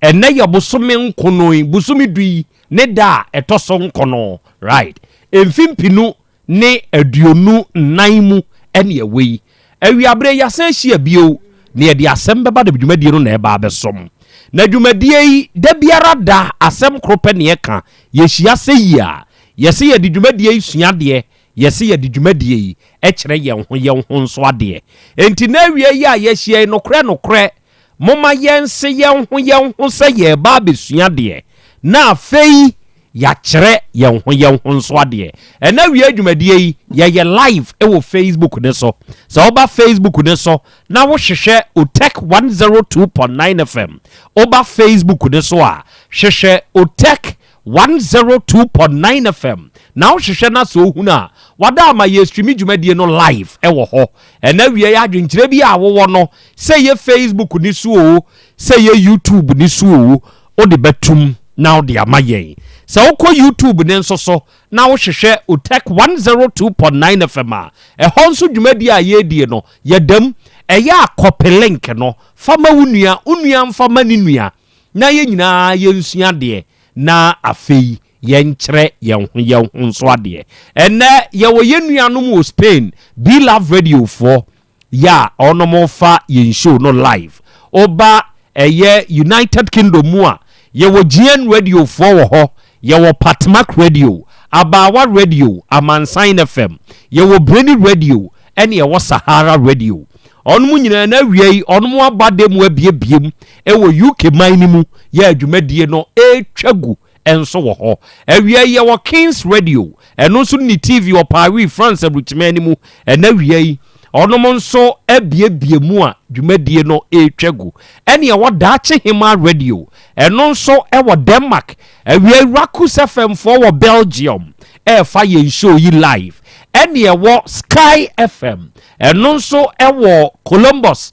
Ɛnnɛ yɛ bosome nkono yi, bosome du yi ne da a ɛtɔ so nkono, right? Mfe mpenu ne aduonu nnan mu ɛne ɛwɔ yi. Awiabere yɛasan ahyia bio na yɛde asɛm bɛba da dwumadie no na ɛba abɛsom. Na dwumadie yi, da biara da asɛm koro pɛ na yɛka. Yɛhyia sɛ yi a, yɛse yɛde dwumadie yi sua adeɛ Yɛse yɛde dwumadie yi kyerɛ yɛn ho yɛn ho nso adeɛ. Enti n'awia yi a yɛahyia yi, nokorɛ nokorɛ, momma yɛnse yɛn ho yɛn ho sɛ yɛreba abɛsua adeɛ, na afei yɛakyerɛ yɛn ho yɛn ho nso adeɛ. Ɛnnɛ awia dwumadie yi, yɛyɛ live wɔ Facebook no so. Sɛ woba Facebook no so na wohwehwɛ Otech 102.9 FM, woba Facebook no so a, hwehwɛ Otech One zero two point nine FM na wo hwehwɛ na sɛ ohunu a wada ama yɛ streami dwumadie no live ɛwɔ hɔ ɛna wiɛɛ adwenkyerɛ bi a wowɔ no sɛ yɛ facebook no so oo sɛ yɛ youtube no so oo wode bɛtum na wode ama yɛn sɛ wokɔ youtube no nso so na wo hwehwɛ otech one zero two point nine FM a ɛhɔ nso dwumadie a yɛredie no yɛdam ɛyɛ a kɔpe link no fa ma wo nua wo nua nfa ma ne nua. na yɛn nyinaa yɛnsua adeɛ na afei yɛnkyerɛ yɛn ho yɛn ho nso adeɛ. Ɛnnɛ yɛwɔ yɛn nuanom wɔ Spain, Be Love Radio foɔ, yɛ a wɔnom fa yɛn show no live. Woba ɛyɛ United Kingdom mu a, yɛwɔ GN Radio foɔ wɔ hɔ, yɛwɔ Patmak Radio, Abaawa Radio, Amansan FM, yɛwɔ Breni Radio ɛne ɛwɔ Sahara Radio. Wɔnom nyinaa na awiei wɔnom aba dɛ mu abiebie mu wɔ UK man no mu yɛ a dwumadie no retwa gu nso wɔ hɔ. Awia yi yɛwɔ King's Radio, ɛno nso ne TV wɔ Paris, France aburukyiman no mu. Ɛna awia yi ɔnom nso abiebie mu a dwumadie no retwa gu. Ɛne ɛwɔ Daakye Hemaa Radio, ɛno nso wɔ Denmark. Awia yi Rakus FM foɔ wɔ Belgium ɛrefa yɛn show yi live. Ɛne ɛwɔ Sky FM, ɛno nso wɔ Columbus,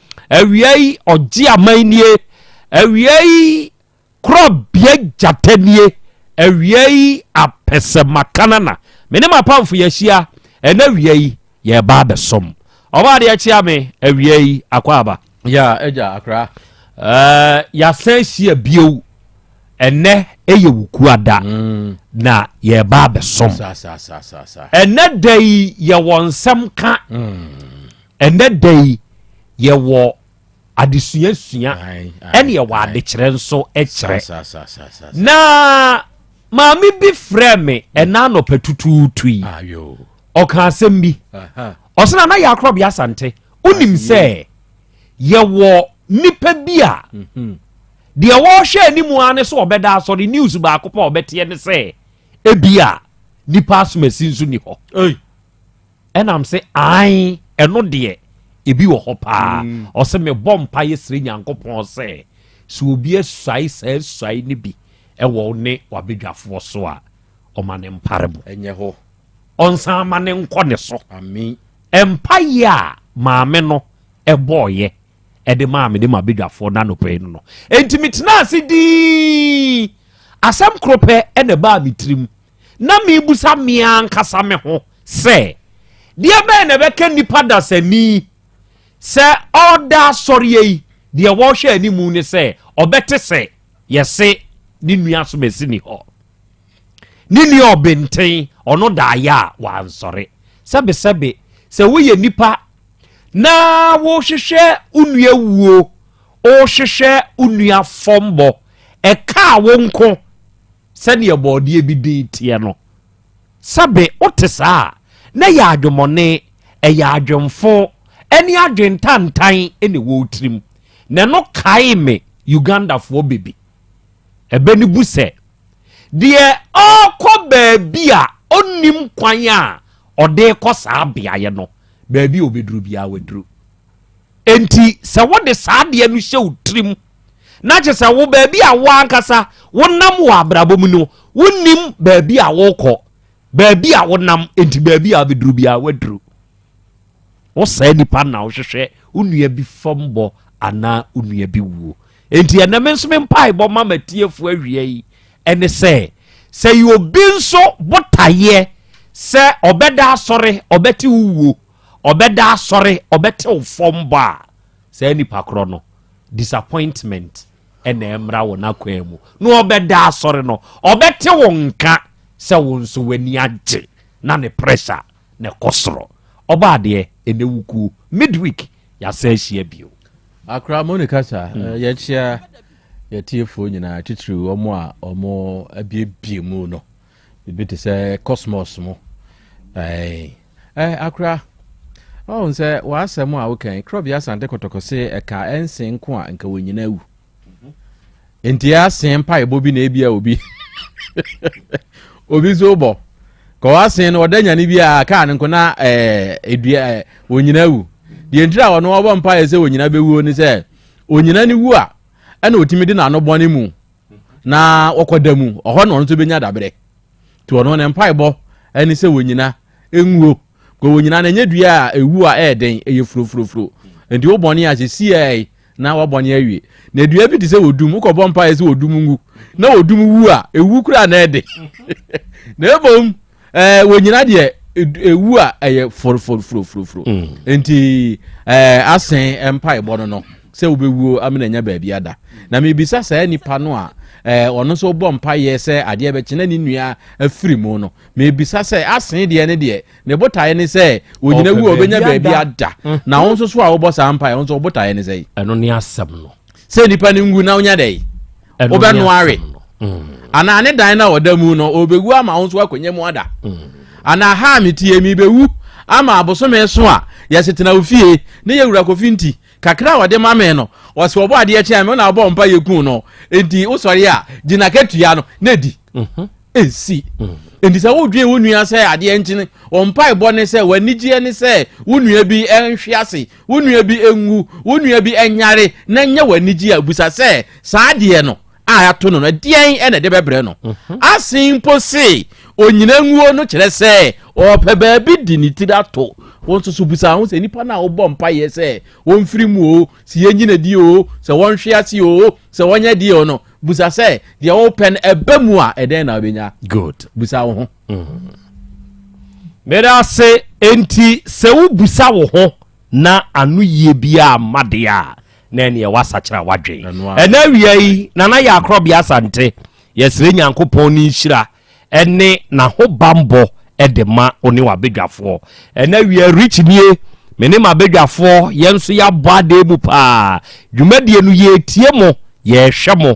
Awiei ɔgye aman nie. Awiei korɔbea gyata nie. Awiei apɛsɛmakanana. Me ne m'apamfo yɛahyia. Ɛnna awiei yɛreba abɛsom. Ɔbaa deɛ kyea me. Awiei akwaaba. Ya agya akra. Ɛɛ yɛasan ahyia bio. Ɛnɛ ɛyɛ wo kua da. Mm. Na yɛreba abɛsom. Ɛnɛ da yi yɛwɔ nsɛm ka. Mm. Ɛnnɛ da yi, yɛwɔ adesua sua, ɛne yɛwɔ adekyerɛ nso kyerɛ. Na maame bi frɛ me mm. ɛna anɔpɛ tutuutu yi, ah, ɔka asɛm bi. Ɔsena na yɛ akorɔbea asante, wonim ah, sɛ yɛwɔ nipa bi a mhm. deɛ wɔhwɛ anim ara ne sɛ ɔbɛda asɔre news baako pɛ a ɔbɛteɛ ne sɛ ebia nipa asomasi nso ni hɔ. ɛna m se ae ɛno deɛ ebi wɔ hɔ paa mm. ɔse mebɔ mpa yɛ srɛ nyankopɔn sɛ sɛ obi asuae saa asuae no bi ɛwɔ ne wabadwafoɔ so a ɔma ne mpare mu ɛnyɛ hɔ ɔnsan ma ne nkɔ ne so mpaeɛ a maame no ɛbɔɔyɛ ɛde maa me de ma badwafoɔ no anɔpɛ yi no no enti metena ase dii asɛm koro pɛ ɛna ɛbaa me tirim na mebisa me ara ankasa me ho sɛ, Deɛ bɛn na ɛbɛka nnipa dasani sɛ ɔreda asɔreɛ yi, deɛ wɔrehwɛ anim ne sɛ ɔbɛte sɛ yɛse ne nua somasini hɔ, ne nua ɔbenten, ɔno daeɛ a wansɔre. Sɛbesɛbe, sɛ woyɛ nipa na wohwehwɛ wo nua wuo, wohwehwɛ wo nua fɔmbɔ, ɛkaa wo nko, Sɛdeɛ bɔɔdeɛ bi din teɛ no. Sɛbe wote saa a, na ɛyɛ adwemmɔne, ɛyɛ adwemfo, ɛne adwentantan na ɛwɔ wo tirim. Na ɛno kaee me Ugandafoɔ bɛbi. Ɛbɛ no bu sɛ, Deɛ ɔrekɔ baabi a ɔnnim kwan a ɔde rekɔ saa beaeɛ no, baabi a ɔbɛduru biara waduru. Enti sɛ wode saa adeɛ no hyɛ wo tirim na kyerɛ sɛ wo baabi a wo ankasa wonam wɔ abrabɔ mu no wonim baabi a wokɔ baabi a wonam nti baabi a wobɛduru biara woaduru wo saa nipa na wohwehwɛ wo nua bi fam bɔ anaa wo nua bi wuo nti ɛnɛ me nso me mpaebɔ ma matiefoɔ awia yi ɛne sɛ sɛ yɛ obi nso botaeɛ sɛ ɔbɛda asɔre ɔbɛte wo wuo ɔbɛda asɔre ɔbɛte wo fam bɔ a saa nipa korɔ no disappointment na ɛmmra wo n'akwan mu na ɔbɛda asɔre no ɔbɛte wo nka sɛ wo nso w'ani agye na ne pressure na ɛkɔ soro ɔba adeɛ ɛnɛ wukuo midweek yɛasa ahyia bio akra moni kasa hmm. eh, yɛkyia yɛtiefoɔ nyinaa titiriw wɔn a wɔn abiebie mu no ebi te sɛ cosmos mu akora ɔhu sɛ w'asɛm a wokan korɔbea asante kɔtɔkɔ se ɛka ɛnse nko a nka wɔnyina awu nti ɛase mpaebɔ bi na ebia obi obi so bɔ ka ɔase no ɔda nyane bi a kaa no nko na ɛdua wɔnyina awu deɛ ntira ɔno ɔbɔ mpaeɛ sɛ wɔnyina bɛwuo ne sɛ ɔnyina ne wu a ɛna ɔtumi de n'ano bɔne mu na wɔkɔda mu ɔhɔ na ɔno nso bɛnya daberɛ nti ɔno ne mpaebɔ ɛne sɛ wɔnyina ɛnwuo kɔ wɔnyina no ɛnyɛ dua a ɛwu a ɛyɛ den ɛyɛ furofurofuro nti wo bɔne a sɛ siɛe na wabɔne awie na dua bi te sɛ wɔdum wokɔbɔ mpaeɛ sɛ wɔdum nwu na wɔdum wu a ɛwu koraa na ɛde na ɛbom ɛɛ eh, wɔnyina deɛ ewu a ɛyɛ foroforoforoforo mm. nti ɛɛ eh, asɛn eh, mpaebɔ no no sɛ wobɛwuo amena nya baabi ada na mebisa saa nipa no a ɛɛ ɔno nso bɔ mpaeɛ sɛ adeɛ bɛkye na ne nua afiri mu no mebisa sɛ asɛn deɛ ne deɛ ne botaeɛ ne sɛ wɔnyina wu a wɔbɛnya baabi ada mm. na wo nso so a wobɔ saa mpaeɛ wo nso wo botaeɛ ne sɛ ɛno ne asɛm no sɛ nipa no ngu na wonya dɛn wobɛnoawe mm. anaa ne dan no a ɔda mu no ɔbɛwu ama wo nso akɔnya mu ada mm. anaa ha a metie mebɛwu ama abosome so a yɛsetena wo fie ne yɛwura kɔfi nti kakra a ɔde ma me no ɔsɛ ɔbɔ adeɛ kyɛn me na ɔbɔ mpa yɛku no enti wosɔre a gyina katua no na di mhm. ɛsi mm. enti sɛ wodwen wo nua sɛ adeɛ nkyene ɔmpa ɛbɔ ne sɛ w'anigyeɛ ne sɛ wo nua bi nhwe ase Wo nua bi nwu, wo nua bi nyare, na ɛnyɛ wo anigye a, bisa sɛ, Saa adeɛ no a ato no no, ɛdeɛn na ɛde bɛbrɛ no? Mhm. Asen mpo se, onyina nguo no kyerɛ sɛ ɔrepɛ baabi de ne tiri ato. Wo nso so bisa ho sɛ, nnipa no a wobɔ mpaeɛ sɛ wɔmfiri mu o, sɛ yɛnyina die o, sɛ wɔnhwe ase o, sɛ wɔnyɛ deɛ o no, bisa sɛ, deɛ wopɛ no ɛba mu a, ɛdɛn na wobɛnya? Good. Bisa wo ho. Meda ase enti sɛ wobisa wo ho na ano yie biara mma deɛ a na ɛneɛ woasakyera w'adwen. Ɛnɛ awia yi Nana Yɛakorɔbea Asante yɛsrɛ Nyankopɔn ne nhyira ɛne n'ahobanbɔ de ma wo ne w'abadwafoɔ. Ɛnɛ awia Rich nie me ne m'abadwafoɔ yɛn nso yɛabɔ adɛɛ mu paa. Dwumadie no yɛretie mo, yɛrehwɛ mo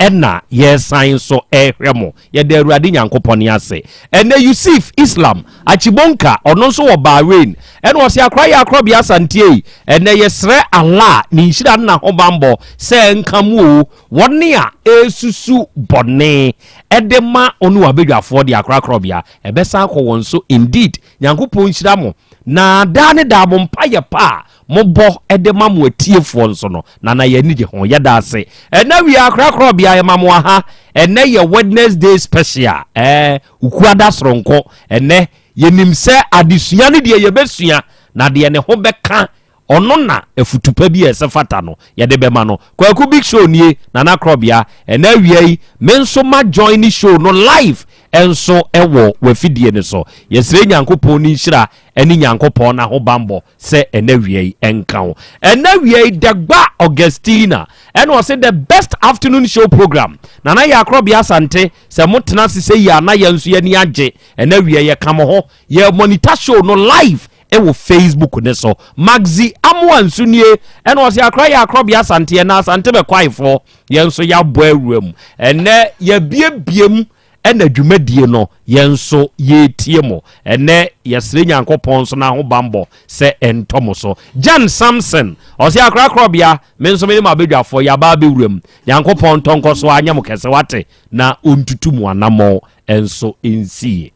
Ɛna yɛresan nso rehwɛ mo. Yɛda Awurade Nyankopɔn ase. Ɛnɛ Yusif Islam Achibonka, ɔno nso wɔ Bahrain, ɛna ɔse akra yɛ akorɔbea Asante ei. Ɛnɛ yɛsrɛ Allah ne nhyira ne n'ahobanbɔ sɛ ɛnka mo oo. Wɔn a ɛresusu bɔne ɛde ma ɔne wɔn abadwafoɔ deɛ akra akorɔbea ɛbɛsan akɔ wɔn so indeed. Nyankopɔn nhyira mo na daa ne daa mo mpayɛ pa a Mo bɔ de ma mo atiefoɔ nso no, Nana yɛn ani gye ho. Yɛda ase. Ɛna wia akorakorɔ bia yɛma mo aha. Ɛnɛ yɛ Wednesday special. Ɛɛ Ukuada soronko. Ɛnɛ yɛnim sɛ adesua ne deɛ yɛbɛsua na deɛ ne ho bɛka ɔno na afutu pa bi a ɛsɛ fata no yɛde bɛma no. Kwaku Big Show nie, Nana Korɔbea. Ɛna awia yi me nso ma join show no live nso wɔ wafidie no so. Yɛsrɛ Nyankopɔn ne nhyira ne Nyankopɔn n'ahobanbɔ. sɛ ɛnɛ wia yi ɛnka wo ɛnɛ wia yi dɛgba augustina ɛna ɔse the best afternoon show program nana yɛ akorɔbea asante sɛ motena ase sɛ yia na yɛn nso yɛni agye ɛnɛ wia yɛ ka mo ho yɛ monitor show no live ɛwɔ facebook ne so magzi amoa nso nie ɛna ɔse akora yɛ akorɔbea asante ɛna asante bɛkwaefoɔ yɛn nso yɛabɔ awura mu ɛnɛ yɛabiebie mu Ɛna dwumadie no yɛn nso yɛretie mo ɛnɛ yɛsrɛ Nyankopɔn nso n'ahobanbɔ sɛ ɛntɔ mo so. Jan Samson ɔse akra krɔbea me nso mene mo abadwafoɔ yɛaba abɛwura mu Nyankopɔn ntɔ nkɔ so anyɛ mo kɛse wate na ɔntutu mo anamɔn nso nsie.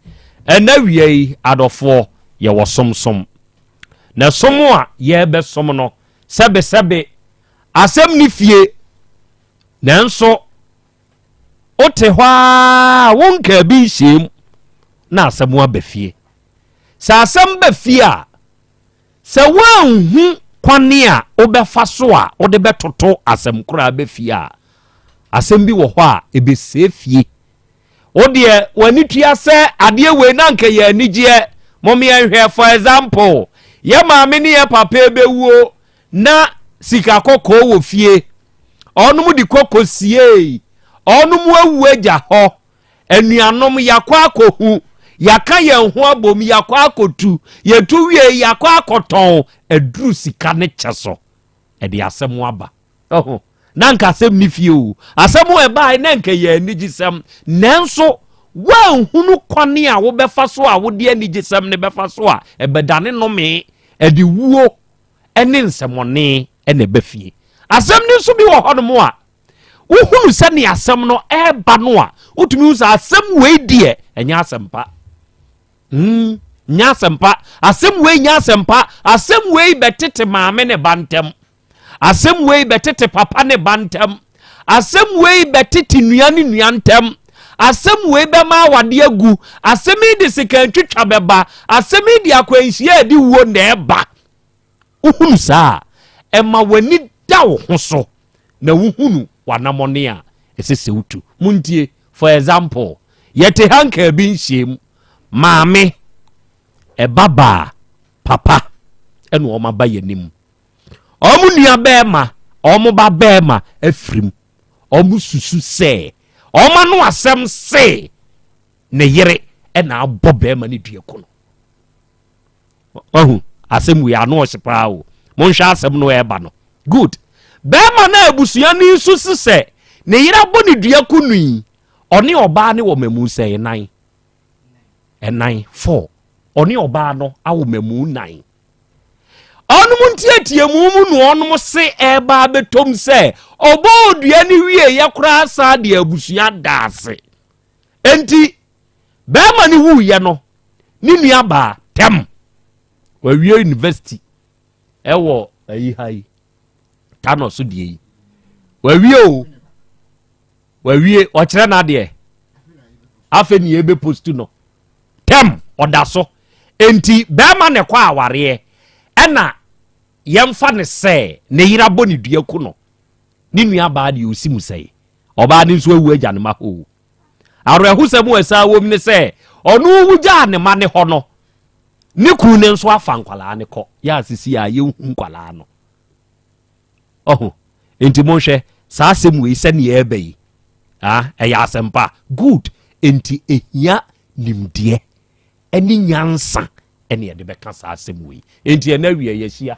Ɛna wia yi adɔfoɔ yɛwɔ som som na som a yɛbɛ som no sɛbe sɛbe asɛm ne fie nanso Wote hɔ ara wonkaa bi nhyiam na asɛm aba fie. Sɛ asɛm ba fie a, sɛ woanhu kwan a wobɛfa so a wode bɛtoto asɛm koro a aba fie a, asɛm bi wɔ hɔ a ɛbɛsɛe fie. Wo deɛ w'ani tua sɛ adeɛ wei na anka yɛ anigyeɛ. Mom yɛnhwɛ for example, yɛ maame ne yɛ papa ɛbɛwuo Na sika kɔkɔɔ wɔ fie. Ɔnom de kɔ kosiee. Ɔnom awu agya hɔ. Anuanom, yɛakɔ akɔhu. Yɛaka yɛn ho abom, yɛakɔ akɔtu. Yɛtu wiei, yɛakɔ akɔtɔn aduru sika ne kyɛ so de asɛm aba. Ho! Na anka asɛm nni fie o. Asɛm a ɛbaeɛ na anka ɛyɛ anigyesɛm. Nanso, woanhunu kwane a wobɛfa so a wode anigyesɛm no bɛfa so a, ɛbɛdane nnome de wuo ne nsɛmmɔne na ɛba fie. Asɛm no nso bi wɔ hɔnom a, wohunu sɛnea asɛm no ɛreba no a, wotumi hu sɛ asɛm wei deɛ ɛnyɛ asɛmpa. Mm, nyɛ asɛmpa. Asɛm wei nyɛ asɛmpa. Asɛm wei bɛtete maame ne ba ntam. Asɛm wei bɛtete papa ne ba ntam. Asɛm wei bɛtete nua ne nua ntam. Asɛm wei bɛma awadeɛ agu. Asɛm yi de sikantwitwa bɛba. Asɛm yi de akwanhyia a ɛde wuo na ɛba. Wohunu saa a, ɛma w'ani da wo ho so na wohunu w'anamɔne a ɛsɛ sɛ wotu. Montie, for example, yɛte ha nkaa bi nhyiam, maame, ɛbabaa, papa, ɛna wɔn aba yɛn anim. wɔn nuabarima, wɔn babarima afirim. Wɔsusu sɛ wɔn ano asɛm se ne yere na abɔ barima no dua ko no. Wahu asɛm wei ano ɔhye paa o. Monhwɛ asɛm no ɛreba no. Good. Barima no abusua no nso si sɛ ne yere abɔ ne dua ko no yi, ɔne ɔbaa ne wɔ mamu sɛ nan. Ɛnan four. Ɔne ɔbaa no awɔ mamu nan. ɔnom nteateamu mu na ɔnom se ɛreba abɛtɔm sɛ ɔbɔɔ dua no wieeɛ koraa saa de abusua da ase enti bɛrima no wuiɛ no ne nua baa tɛm wawie university ɛwɔ ayi ha yi tano so deɛ yi wawie o Wawie, ɔkyerɛ n'adeɛ. Afei ne yɛbɛ post no. Tɛm, ɔda so. Enti bɛrima na ɛkɔ awareɛ ɛna yɛmfa no sɛ ne yere abɔ ne dua ku no. Ne nua baa deɛ ɔsi mu sɛe. Ɔbaa no nso awu agya ne ma hoo. Awerɛhosɛm a ɛsaa wom ne sɛ ɔno wu gyaa ne ma ne hɔ no, ne kunu no nso afa nkwadaa no kɔ. Yɛ a sisi a yɛnhu nkwadaa no. ɔho enti monhwɛ saa asɛm wei sɛdeɛ ɛreba yi ah, ɛyɛ asɛmpa good enti ɛhia nimdeɛ ɛne nyansa ɛne ɛde bɛka saa asɛm wei enti ɛna awie yɛahyia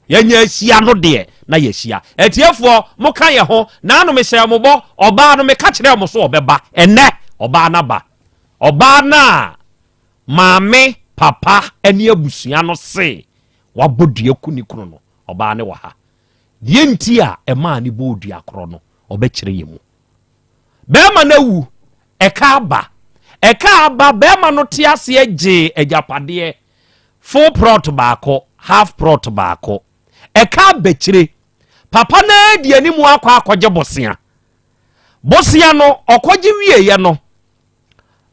yɛnya ahyia no deɛ na yɛahyia atiefoɔ moka yɛ ho na ano mehyɛ mo bɔ ɔbaa no meka kyerɛ mo so ɔbɛba ɛnɛ ɔbaa no aba ɔbaa no a maame papa ne abusua no se wabɔ dua ku ne kunu no Ɔbaa no wɔ ha. Deɛ nti a ɛmaa no bɔɔ dua korɔ no, ɔbɛkyerɛ yɛn mu. Barima no awu, ɛka aba. Ɛka aba, barima no te aseɛ gyee agyapadeɛ, full prɔt baako, half prɔt baako. Ɛka abɛkyire, papa no ara di anim akɔ akɔgye bosea. Bosea no, ɔkɔgye wieeɛ no,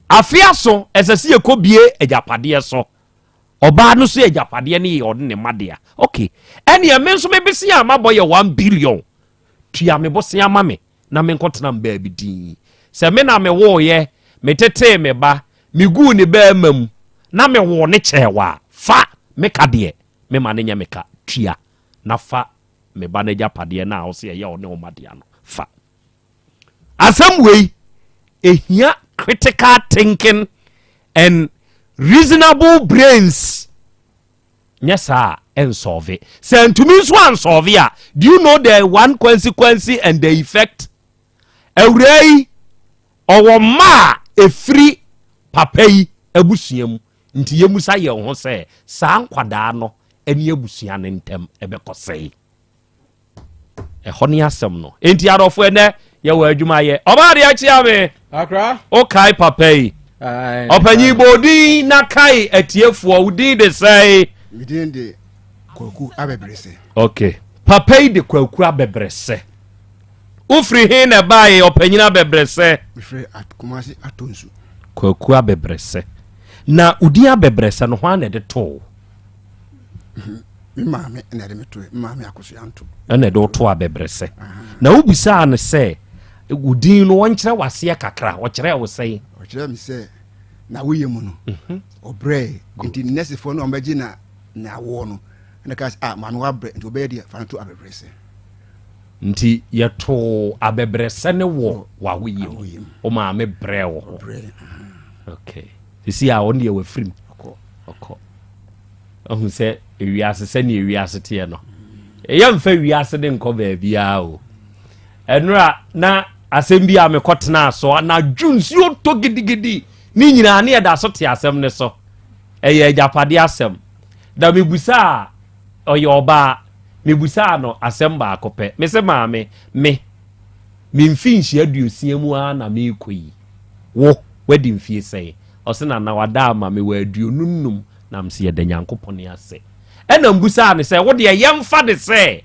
Afe aso, ɛsɛ sɛ yɛkɔbue agyapadeɛ so. Ɔbaa no so agyapadeɛ no yɛ ɔne ne mma dea. Ok, ɛneɛ me nso me bosea a mabɔ yɛ one billion. Tua me bosea ma me na menkɔtena me baabi dinn. Sɛ me na mewoeɛ, metetee me ba, meguu ne barima mu, na mewoo no kyɛɛ wo a, fa me ka deɛ mema no nyɛ me ka. Tua na fa me ba no agyapadeɛ no a wose ɛyɛ ɔne wo mma dea no fa. Asɛm wei ɛhia critical thinking and reasonable brains nyɛ saa a ɛnsɔɔve. Sɛ antumi nso ansɔɔve a do you know the one consequence and the effect? Awuraa yi ɔwɔ mma a ɛfiri papa yi abusua mu nti yɛmusa yɛn ho sɛ saa nkwadaa no ɛne abusua no ntam ɛbɛkɔ sɛn? Ɛhɔ ne asɛm no. Enti adɔfo ɛnɛ yɛwɔ adwuma yɛ. Ɔbaa de akyia me. Akra. O kai papa yi. Ɔpanyin bɔ odin na kai atiefoɔ wo din de sɛe. Me din de Kwaku Abɛbrɛsɛ. Okay. Papa yi de Kwaku Abɛbrɛsɛ. Wofiri he na ɛbaeɛ ɔpanyin Abɛbrɛsɛ? Mefiri Kumasi Atonsu. Kwaku Abɛbrɛsɛ. Na odin Abɛbrɛsɛ no hwan na ɛde too? ɛna ɛde woto abɛbrɛsɛ na wobisaa no sɛ wo din no ɔnkyerɛ waseɛ kakra ɔkyerɛ wo sɛn ɔkyerɛ me sɛ na woyɛ mu no mhm. ɔbrɛ nti nɛsefoɔ no ɔmbɛgye na na awoɔ no ɛna ka sɛ ah maame wabrɛ nti ɔbɛyɛ deɛ fa no to abɛbrɛsɛ nti yɛtoo abɛbrɛsɛ ne wɔ wawoyɛ mu wo maame brɛ wɔ hɔ okay ɛsi a ɔne deɛ wafirim ɔkɔ ahu sɛ ewiase sɛnea ewiase teɛ no ɛyɛ mfa wiase de nkɔ baabiara o ɛnora na asɛm bi a mekɔtenaa so anadwo nsuo tɔ gidigidi ne nyinaa ne ɛda so te asɛm ne so ɛyɛ agyapade asɛm na mebusaa ɔyɛ ɔbaa mebusaa no asɛm baako pɛ me se maame me memfi nhyia aduosia mu ara na meekɔ yi wo wadi mfie sɛn Ɔse na na wada ama me wɔ aduonu nnum na mse yɛda Nyankopɔn ase. Ɛna mbusaa no sɛ wodeɛ yɛmfa de sɛ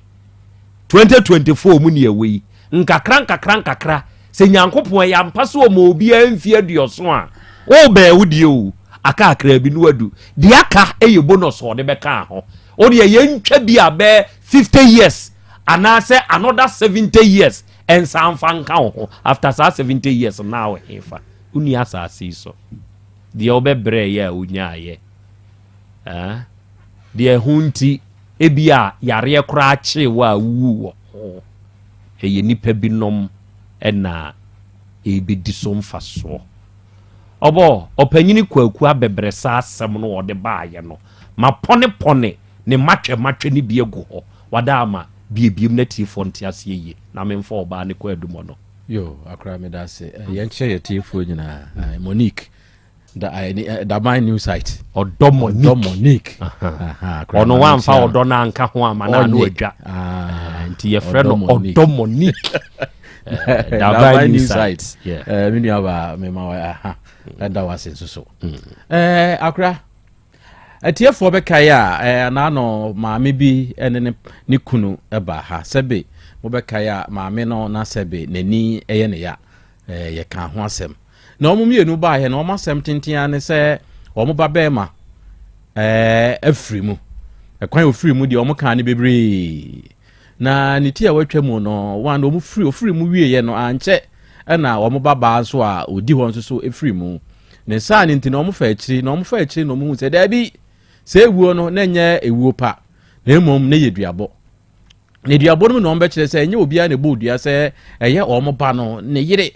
2024 mu ne yɛwɔ yi, nkakra nkakra nkakra sɛ Nyankopɔn ɛyɛ ampa sɛ ɔma obiara mfie aduɔson a, wobɛɛ wo deɛ oo, aka kakraabi na wadu, deɛ aka yɛ bonus a ɔde bɛkaa ho. Wodeɛ yɛntwa bi a bɛɛ 50 years anaasɛ another 70 years nsan mfa nka wo ho, after saa 70 years no na wɔ hefa? Wonni asase yi so. Deɛ wobɛbrɛeɛ a wonyaaeɛ. Ɛɛ, deɛ ɛho nti ebia yareɛ koraa kyee wo a wowuu wɔ ho. Ɛyɛ nnipa binom na ɛrebɛdi so mfasoɔ. Ɔbɔ, Ɔpanyini Kwaku abɛbrɛsɛ asɛm no a ɔde baeɛ no, mapɔnepɔne ne mmatwɛmmatwɛ no bi agu hɔ. Wada ama biebiem na atiefoɔ nte aseɛ yie, na memfa ɔbaa ne kwaadumɔ no. Yo akora me da se eh, yɛn kyerɛ yɛ tiefoɔ nyinaa eh, Monique da eh, eh, da my new site ɔdɔ Monique ɔdɔ Monique ɔno wa nfa ɔdɔ na nka ho ama na ano adwa ah, nti yɛ frɛ no ɔdɔ Monique da my new site me nua ba me ma wa aha ɛda wa se nso so akora Atiefoɔ bɛkae a, eh, na ano maame bi ne ne, ne kunu ba ha. Sɛbe mobɛkae a, maame no na sɛbe n'ani yɛ ne ya. Eh, yɛkaa ho asɛm. Na wɔn mmienu baeɛ no, wɔn asɛm tenten ara ne sɛ wɔn ba bɛrima eh, afiri mu. Ɛkwan ofiri mu deɛ wɔn kaa no bebree. Na ne ti a watwa mu no, wɔn na wɔn firi ofiri mu wieɛ no ankyɛ ɛna wɔn babaa nso a ɔdi hɔ nso so firi mu. Ne saa no nti na wɔn fa akyiri na wɔn fa akyiri na wɔn hu sɛ daabi sɛ ewuo no na ɛnyɛ ewuo pa na mmom na ɛyɛ duabɔ. Na duabɔ no mu na wɔn bɛkyerɛ sɛ ɛnyɛ obiara na ɛbɔ dua sɛ ɛyɛ wɔn ba no ne yere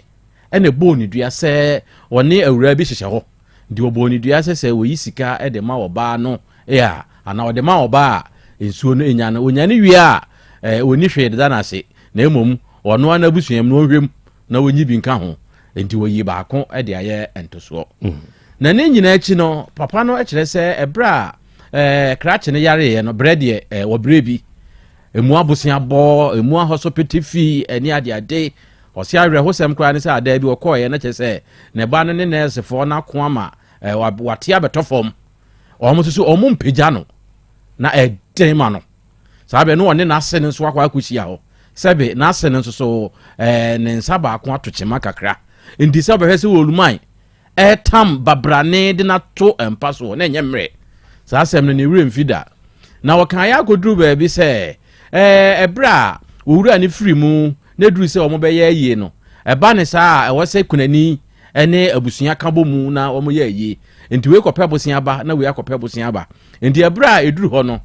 ɛna ɛbɔ ne dua sɛ wɔne awuraa bi hyehyɛ hɔ. Nti wɔbɔɔ no dua sɛ sɛ ɔyi sika de ma ɔbaa no a, anaa ɔde ma ɔbaa a nsuo no nya no, ɔnya no wie a, ɔnni hwee deda no ase, na mmom ɔno ara n'abusuam no ɔnhwɛ mu na ɔnyi bi nka ho. Nti wɔyii baako de ayɛ ntosoɔ. Na ne nyinaa akyi no, papa no kyerɛ sɛ ɛberɛ a krakye no yareeɛ no, berɛ deɛ wɔbrɛ bi, ɛmu abosea bɔ, ɛmu ahɔsopete fi, ɛne adeade, Ɔse awerɛhosɛm koraa ne sɛ adaa bi ɔkɔeɛ na kyerɛ sɛ ne ba no ne nɛɛsefoɔ no ako ama wate abɛtɔ fam. Wɔn nso so wɔn mpagya no na ɛden ma no. Saa bɛ no ɔne n'ase no nso akɔ akɔhyia hɔ. Sɛbe n'ase no nso so ne nsa baako ato kyema kakra. Nti sɛ ɔbɛhwɛ sɛ wɔluman Ɛretam babrane de no ato mpa so na ɛnyɛ mmerɛ. Saa asɛm no ne werɛ mfi da. Na wɔkaeɛ akɔduru baabi sɛ ɛberɛ a wɔwura ne firi mu na ɛduru sɛ wɔbɛyɛ ayie no, ɛba ne saa a ɛwɔ sɛ kunani ne abusua ka bɔ mu na wɔyɛ ayie. Nti wei kɔpɛ bosea ba na wei akɔpɛ bosea ba. Enti ɛberɛ a ɛduru hɔ no,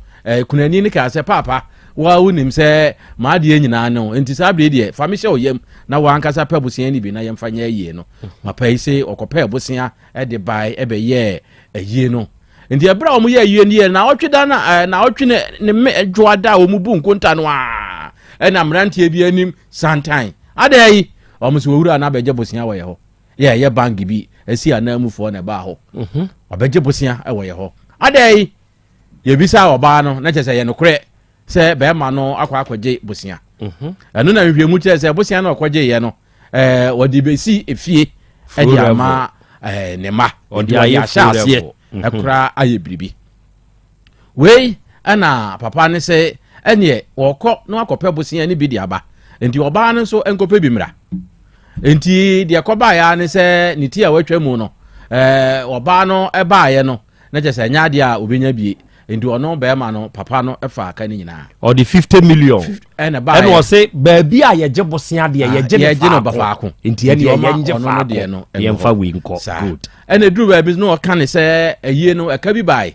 kunani no kaa sɛ, Paapa, wo ara wonim sɛ m'adeɛ nyinaa ne wo, enti saa berɛ deɛ fa me hyɛ wo yam na wo ankasa pɛ bosea no bi na yɛmfa nyɛ ayie no. Papa yi se ɔkɔpɛɛ bosea de bae bɛyɛɛ ayie no. Enti ɛberɛ a wɔyɛ ayie no yɛɛ na ɔtwe da na na ɔtwe ne ne mme dwoa da a wɔn bu nkonta no a ɛna mmeranteɛ bi anim santan. Adɛn yi? Wɔn se owura na abɛgye bosea wɔ yɛ hɔ. Yɛ ɛyɛ bank bi ɛsi ananmufoɔ na ɛbaa hɔ. Mhm. Ɔbɛgye bosea ɛwɔ yɛ hɔ. Adɛn yi? Yɛbisa ɔbaa no na kyerɛ sɛ ɛyɛ nokorɛ sɛ bɛrima no akɔ akɔgye bosea. Mhm. Ɛno na nhwehwɛmu kyerɛ sɛ bosea no ɔkɔgyeeɛ no ɛɛ wɔde bɛsi efie ɛde ama ɛɛ ne ma. Wɔde ayɛ ahyɛ aseɛ ɛkora ayɛ biribi. Wei na papa no se ɛneɛ wɔkɔ na wakɔpɛ bosea no bi de aba, nti ɔbaa no nso nkɔpɛ bi mmra. Nti deɛ kɔbaeɛ ara ne sɛ ne ti a watwa mu no, ɛɛ ɔbaa no baeɛ no, na kyerɛ sɛ ɛnyɛ adeɛ a ɔbɛnya bie. Nti ɔno bɛrima no papa no faa ka no nyinaa. Ɔde 50 million ɛna baeɛ. Ɛna ɔse baabi a yɛgye bosea deɛ yɛgye no faako. Nti ɛneɛ yɛngye faako, yɛmfa wei nkɔ. Good. Ɛna eduru baabi no ɔka ne sɛ ayie no ɛka bi baae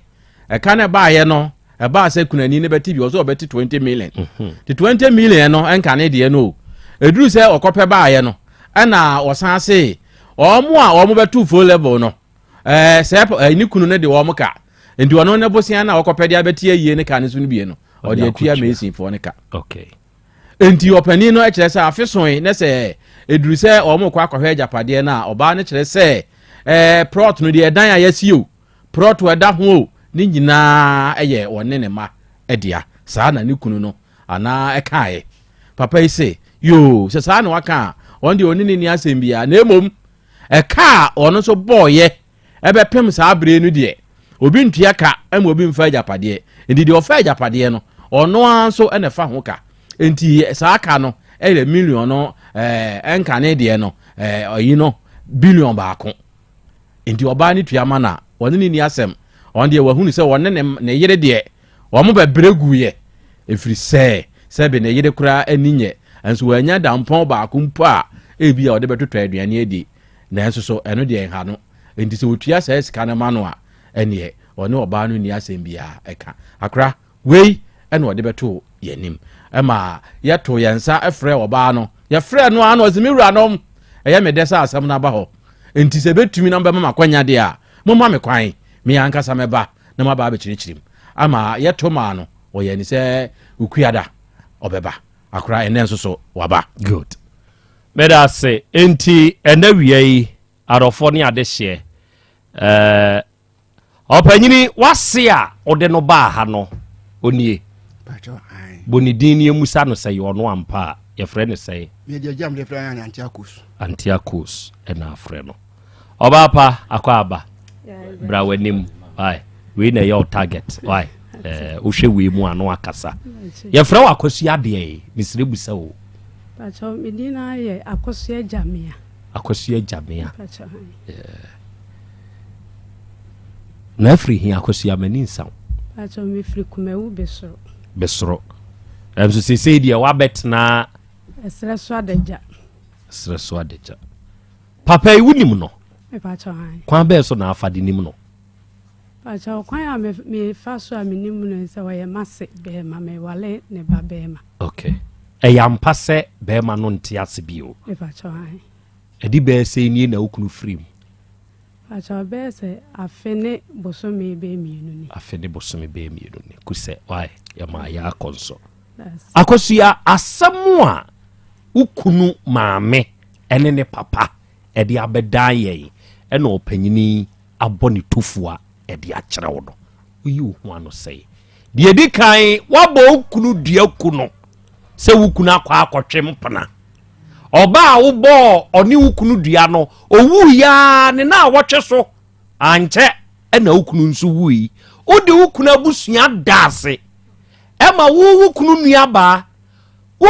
ɛka no ɛbaeɛ no ɛbaa sɛ kunani no bɛte bi ɔsɛ ɔbɛte 20 million mhm. te 20 million no ɛnka ne deɛ no o ɛduru sɛ ɔkɔpɛ baaeɛ no ɛna ɔsan se wɔn a wɔn bɛto full level no ɛɛ sɛ ɛɛ ne kunu no de wɔn ka nti ɔno ne bosia na ɔkɔpɛ de abɛte ayie ne ka ne so no bie no ɔde atua mesinfoɔ ne ka. Okay. Enti ɔpanin no kyerɛ sɛ afe soe na sɛ ɛduru sɛ wɔrekɔ akɔhwɛ agyapadeɛ no a, ɔbaa no kyerɛ sɛ ɛɛ prɔt no deɛ ɛdan a yɛasi o, prɔt a ɛda ho o, ne nyinaa yɛ ɔne ne mma dea. Saa na ne kunu no anaa ɛkaeɛ. Papa yi se, yoo, sɛ saa na waka a, ɔno deɛ ɔne ne nni asɛm biara. Na mmom, ɛka a ɔno nso bɔɔeɛ Ɛbɛpem saa bere no deɛ, obi ntua ka ma obi mfa agyapadeɛ. Enti deɛ ɔfa agyapadeɛ no, ɔno ara nso na ɛfa ho ka. Enti saa ka no yɛ miliɔn no ɛɛ nka ne deɛ no ɛɛ ɔyi no biliɔn baako. Enti ɔbaa no tua ma no a, ɔne ne ni asɛm. Ɔno deɛ wahunu sɛ ɔne ne ne yere deɛ wɔn bɛbrɛ guiɛ. Ɛfiri sɛ sɛbe ne yere koraa ani nyɛ nso wanya dampɔn baako mpo a ebia ɔde bɛtotɔ aduane adi. Nanso so ɛno deɛ nha no? Enti sɛ ɔtua saa sika no ma no a, ɛnneɛ ɔne ɔbaa no nni asɛm biara ka. Akora, wei na ɔde bɛtoo yɛn anim. Ɛma yɛtoo yɛn nsa frɛɛ ɔbaa no. Yɛfrɛɛ no ara na ɔse, Me wuranom, ɛyɛ me dɛ sɛ asɛm no aba hɔ. Enti sɛ ɛbɛtumi na mobɛma me akwanya deɛ a, momma me kwan. Me ankasa mɛba na maba abɛkyerɛkyerɛ mu. Ɛma yɛto maa no. Ɔyɛɛ ani sɛ Okuada ɔbɛba. Akora, ɛnnɛ nso so waba. Good. Meda ase. Enti nnawia yi, adɔfoɔ ne adehyeɛ, eh, ɔpanyini wase a wode no baa ha no, ɔnie? Pacho, ae. Bɔ ne din ne yɛmmusa no sɛ yɛ ɔno ampa a, yɛfrɛ no sɛn? Yɛde agyam de frɛ no Antiakos. Antiakos na afrɛ no. Ɔbaa pa akɔ aba. Bra w'anim. Why? Wei na ɛyɛ wo target. Why? Eh, wohwɛ wei mu ano akasa. Yɛfrɛ wo akɔsu adeɛ yi. Mesrɛ busa o. Pacho, me din na yɛ akɔsu agyamea. Akɔsu agyamea. Pacho. Yeah. Na afiri hin akɔsu amani nsaw. Pacho, me firi kumawu besoro. Besoro. Ɛnso sesei deɛ wabɛtena. Ɛsrɛ so adagya. Ɛsrɛ so adagya. Papa yi wonim no? Mepakyɛw han. Kwan bɛɛ so na afa de nim no? Pakyɛw kwan a mefa so a menim no sɛ ɔyɛ m'ase bɛrima mewale ne ba bɛrima. Okay. Ɛyɛ ampa sɛ bɛrima no nte ase bio? Mepakyɛw han. Ɛde bɛɛ sɛ nie na okunu firi mu? Pakyɛw bɛɛ sɛ afe ne bosome bɛɛ mmienu ni. Afe ne bosome bɛɛ mmienu ni. Kusɛ, wae, yɛmaa yɛ akɔ nso. Akosua asɛm a wokunu maame ɛne ne papa de abɛdan yɛn na ɔpanyin yi abɔ ne tofua de akyerɛ wo no, woyi wo ho ano sɛe. Deɛ di kan, woabɔ wo kunu dua ku no sɛ wo kunu akɔ akɔtwe mpena. Ɔbaa a wobɔɔ ɔne wo kunu dua no, owuu yaa ne na awɔtwe so. Ankyɛ na wo kunu nso wui. Wode wo kunu abusua da ase. Ɛma wo wo kunu nuabaa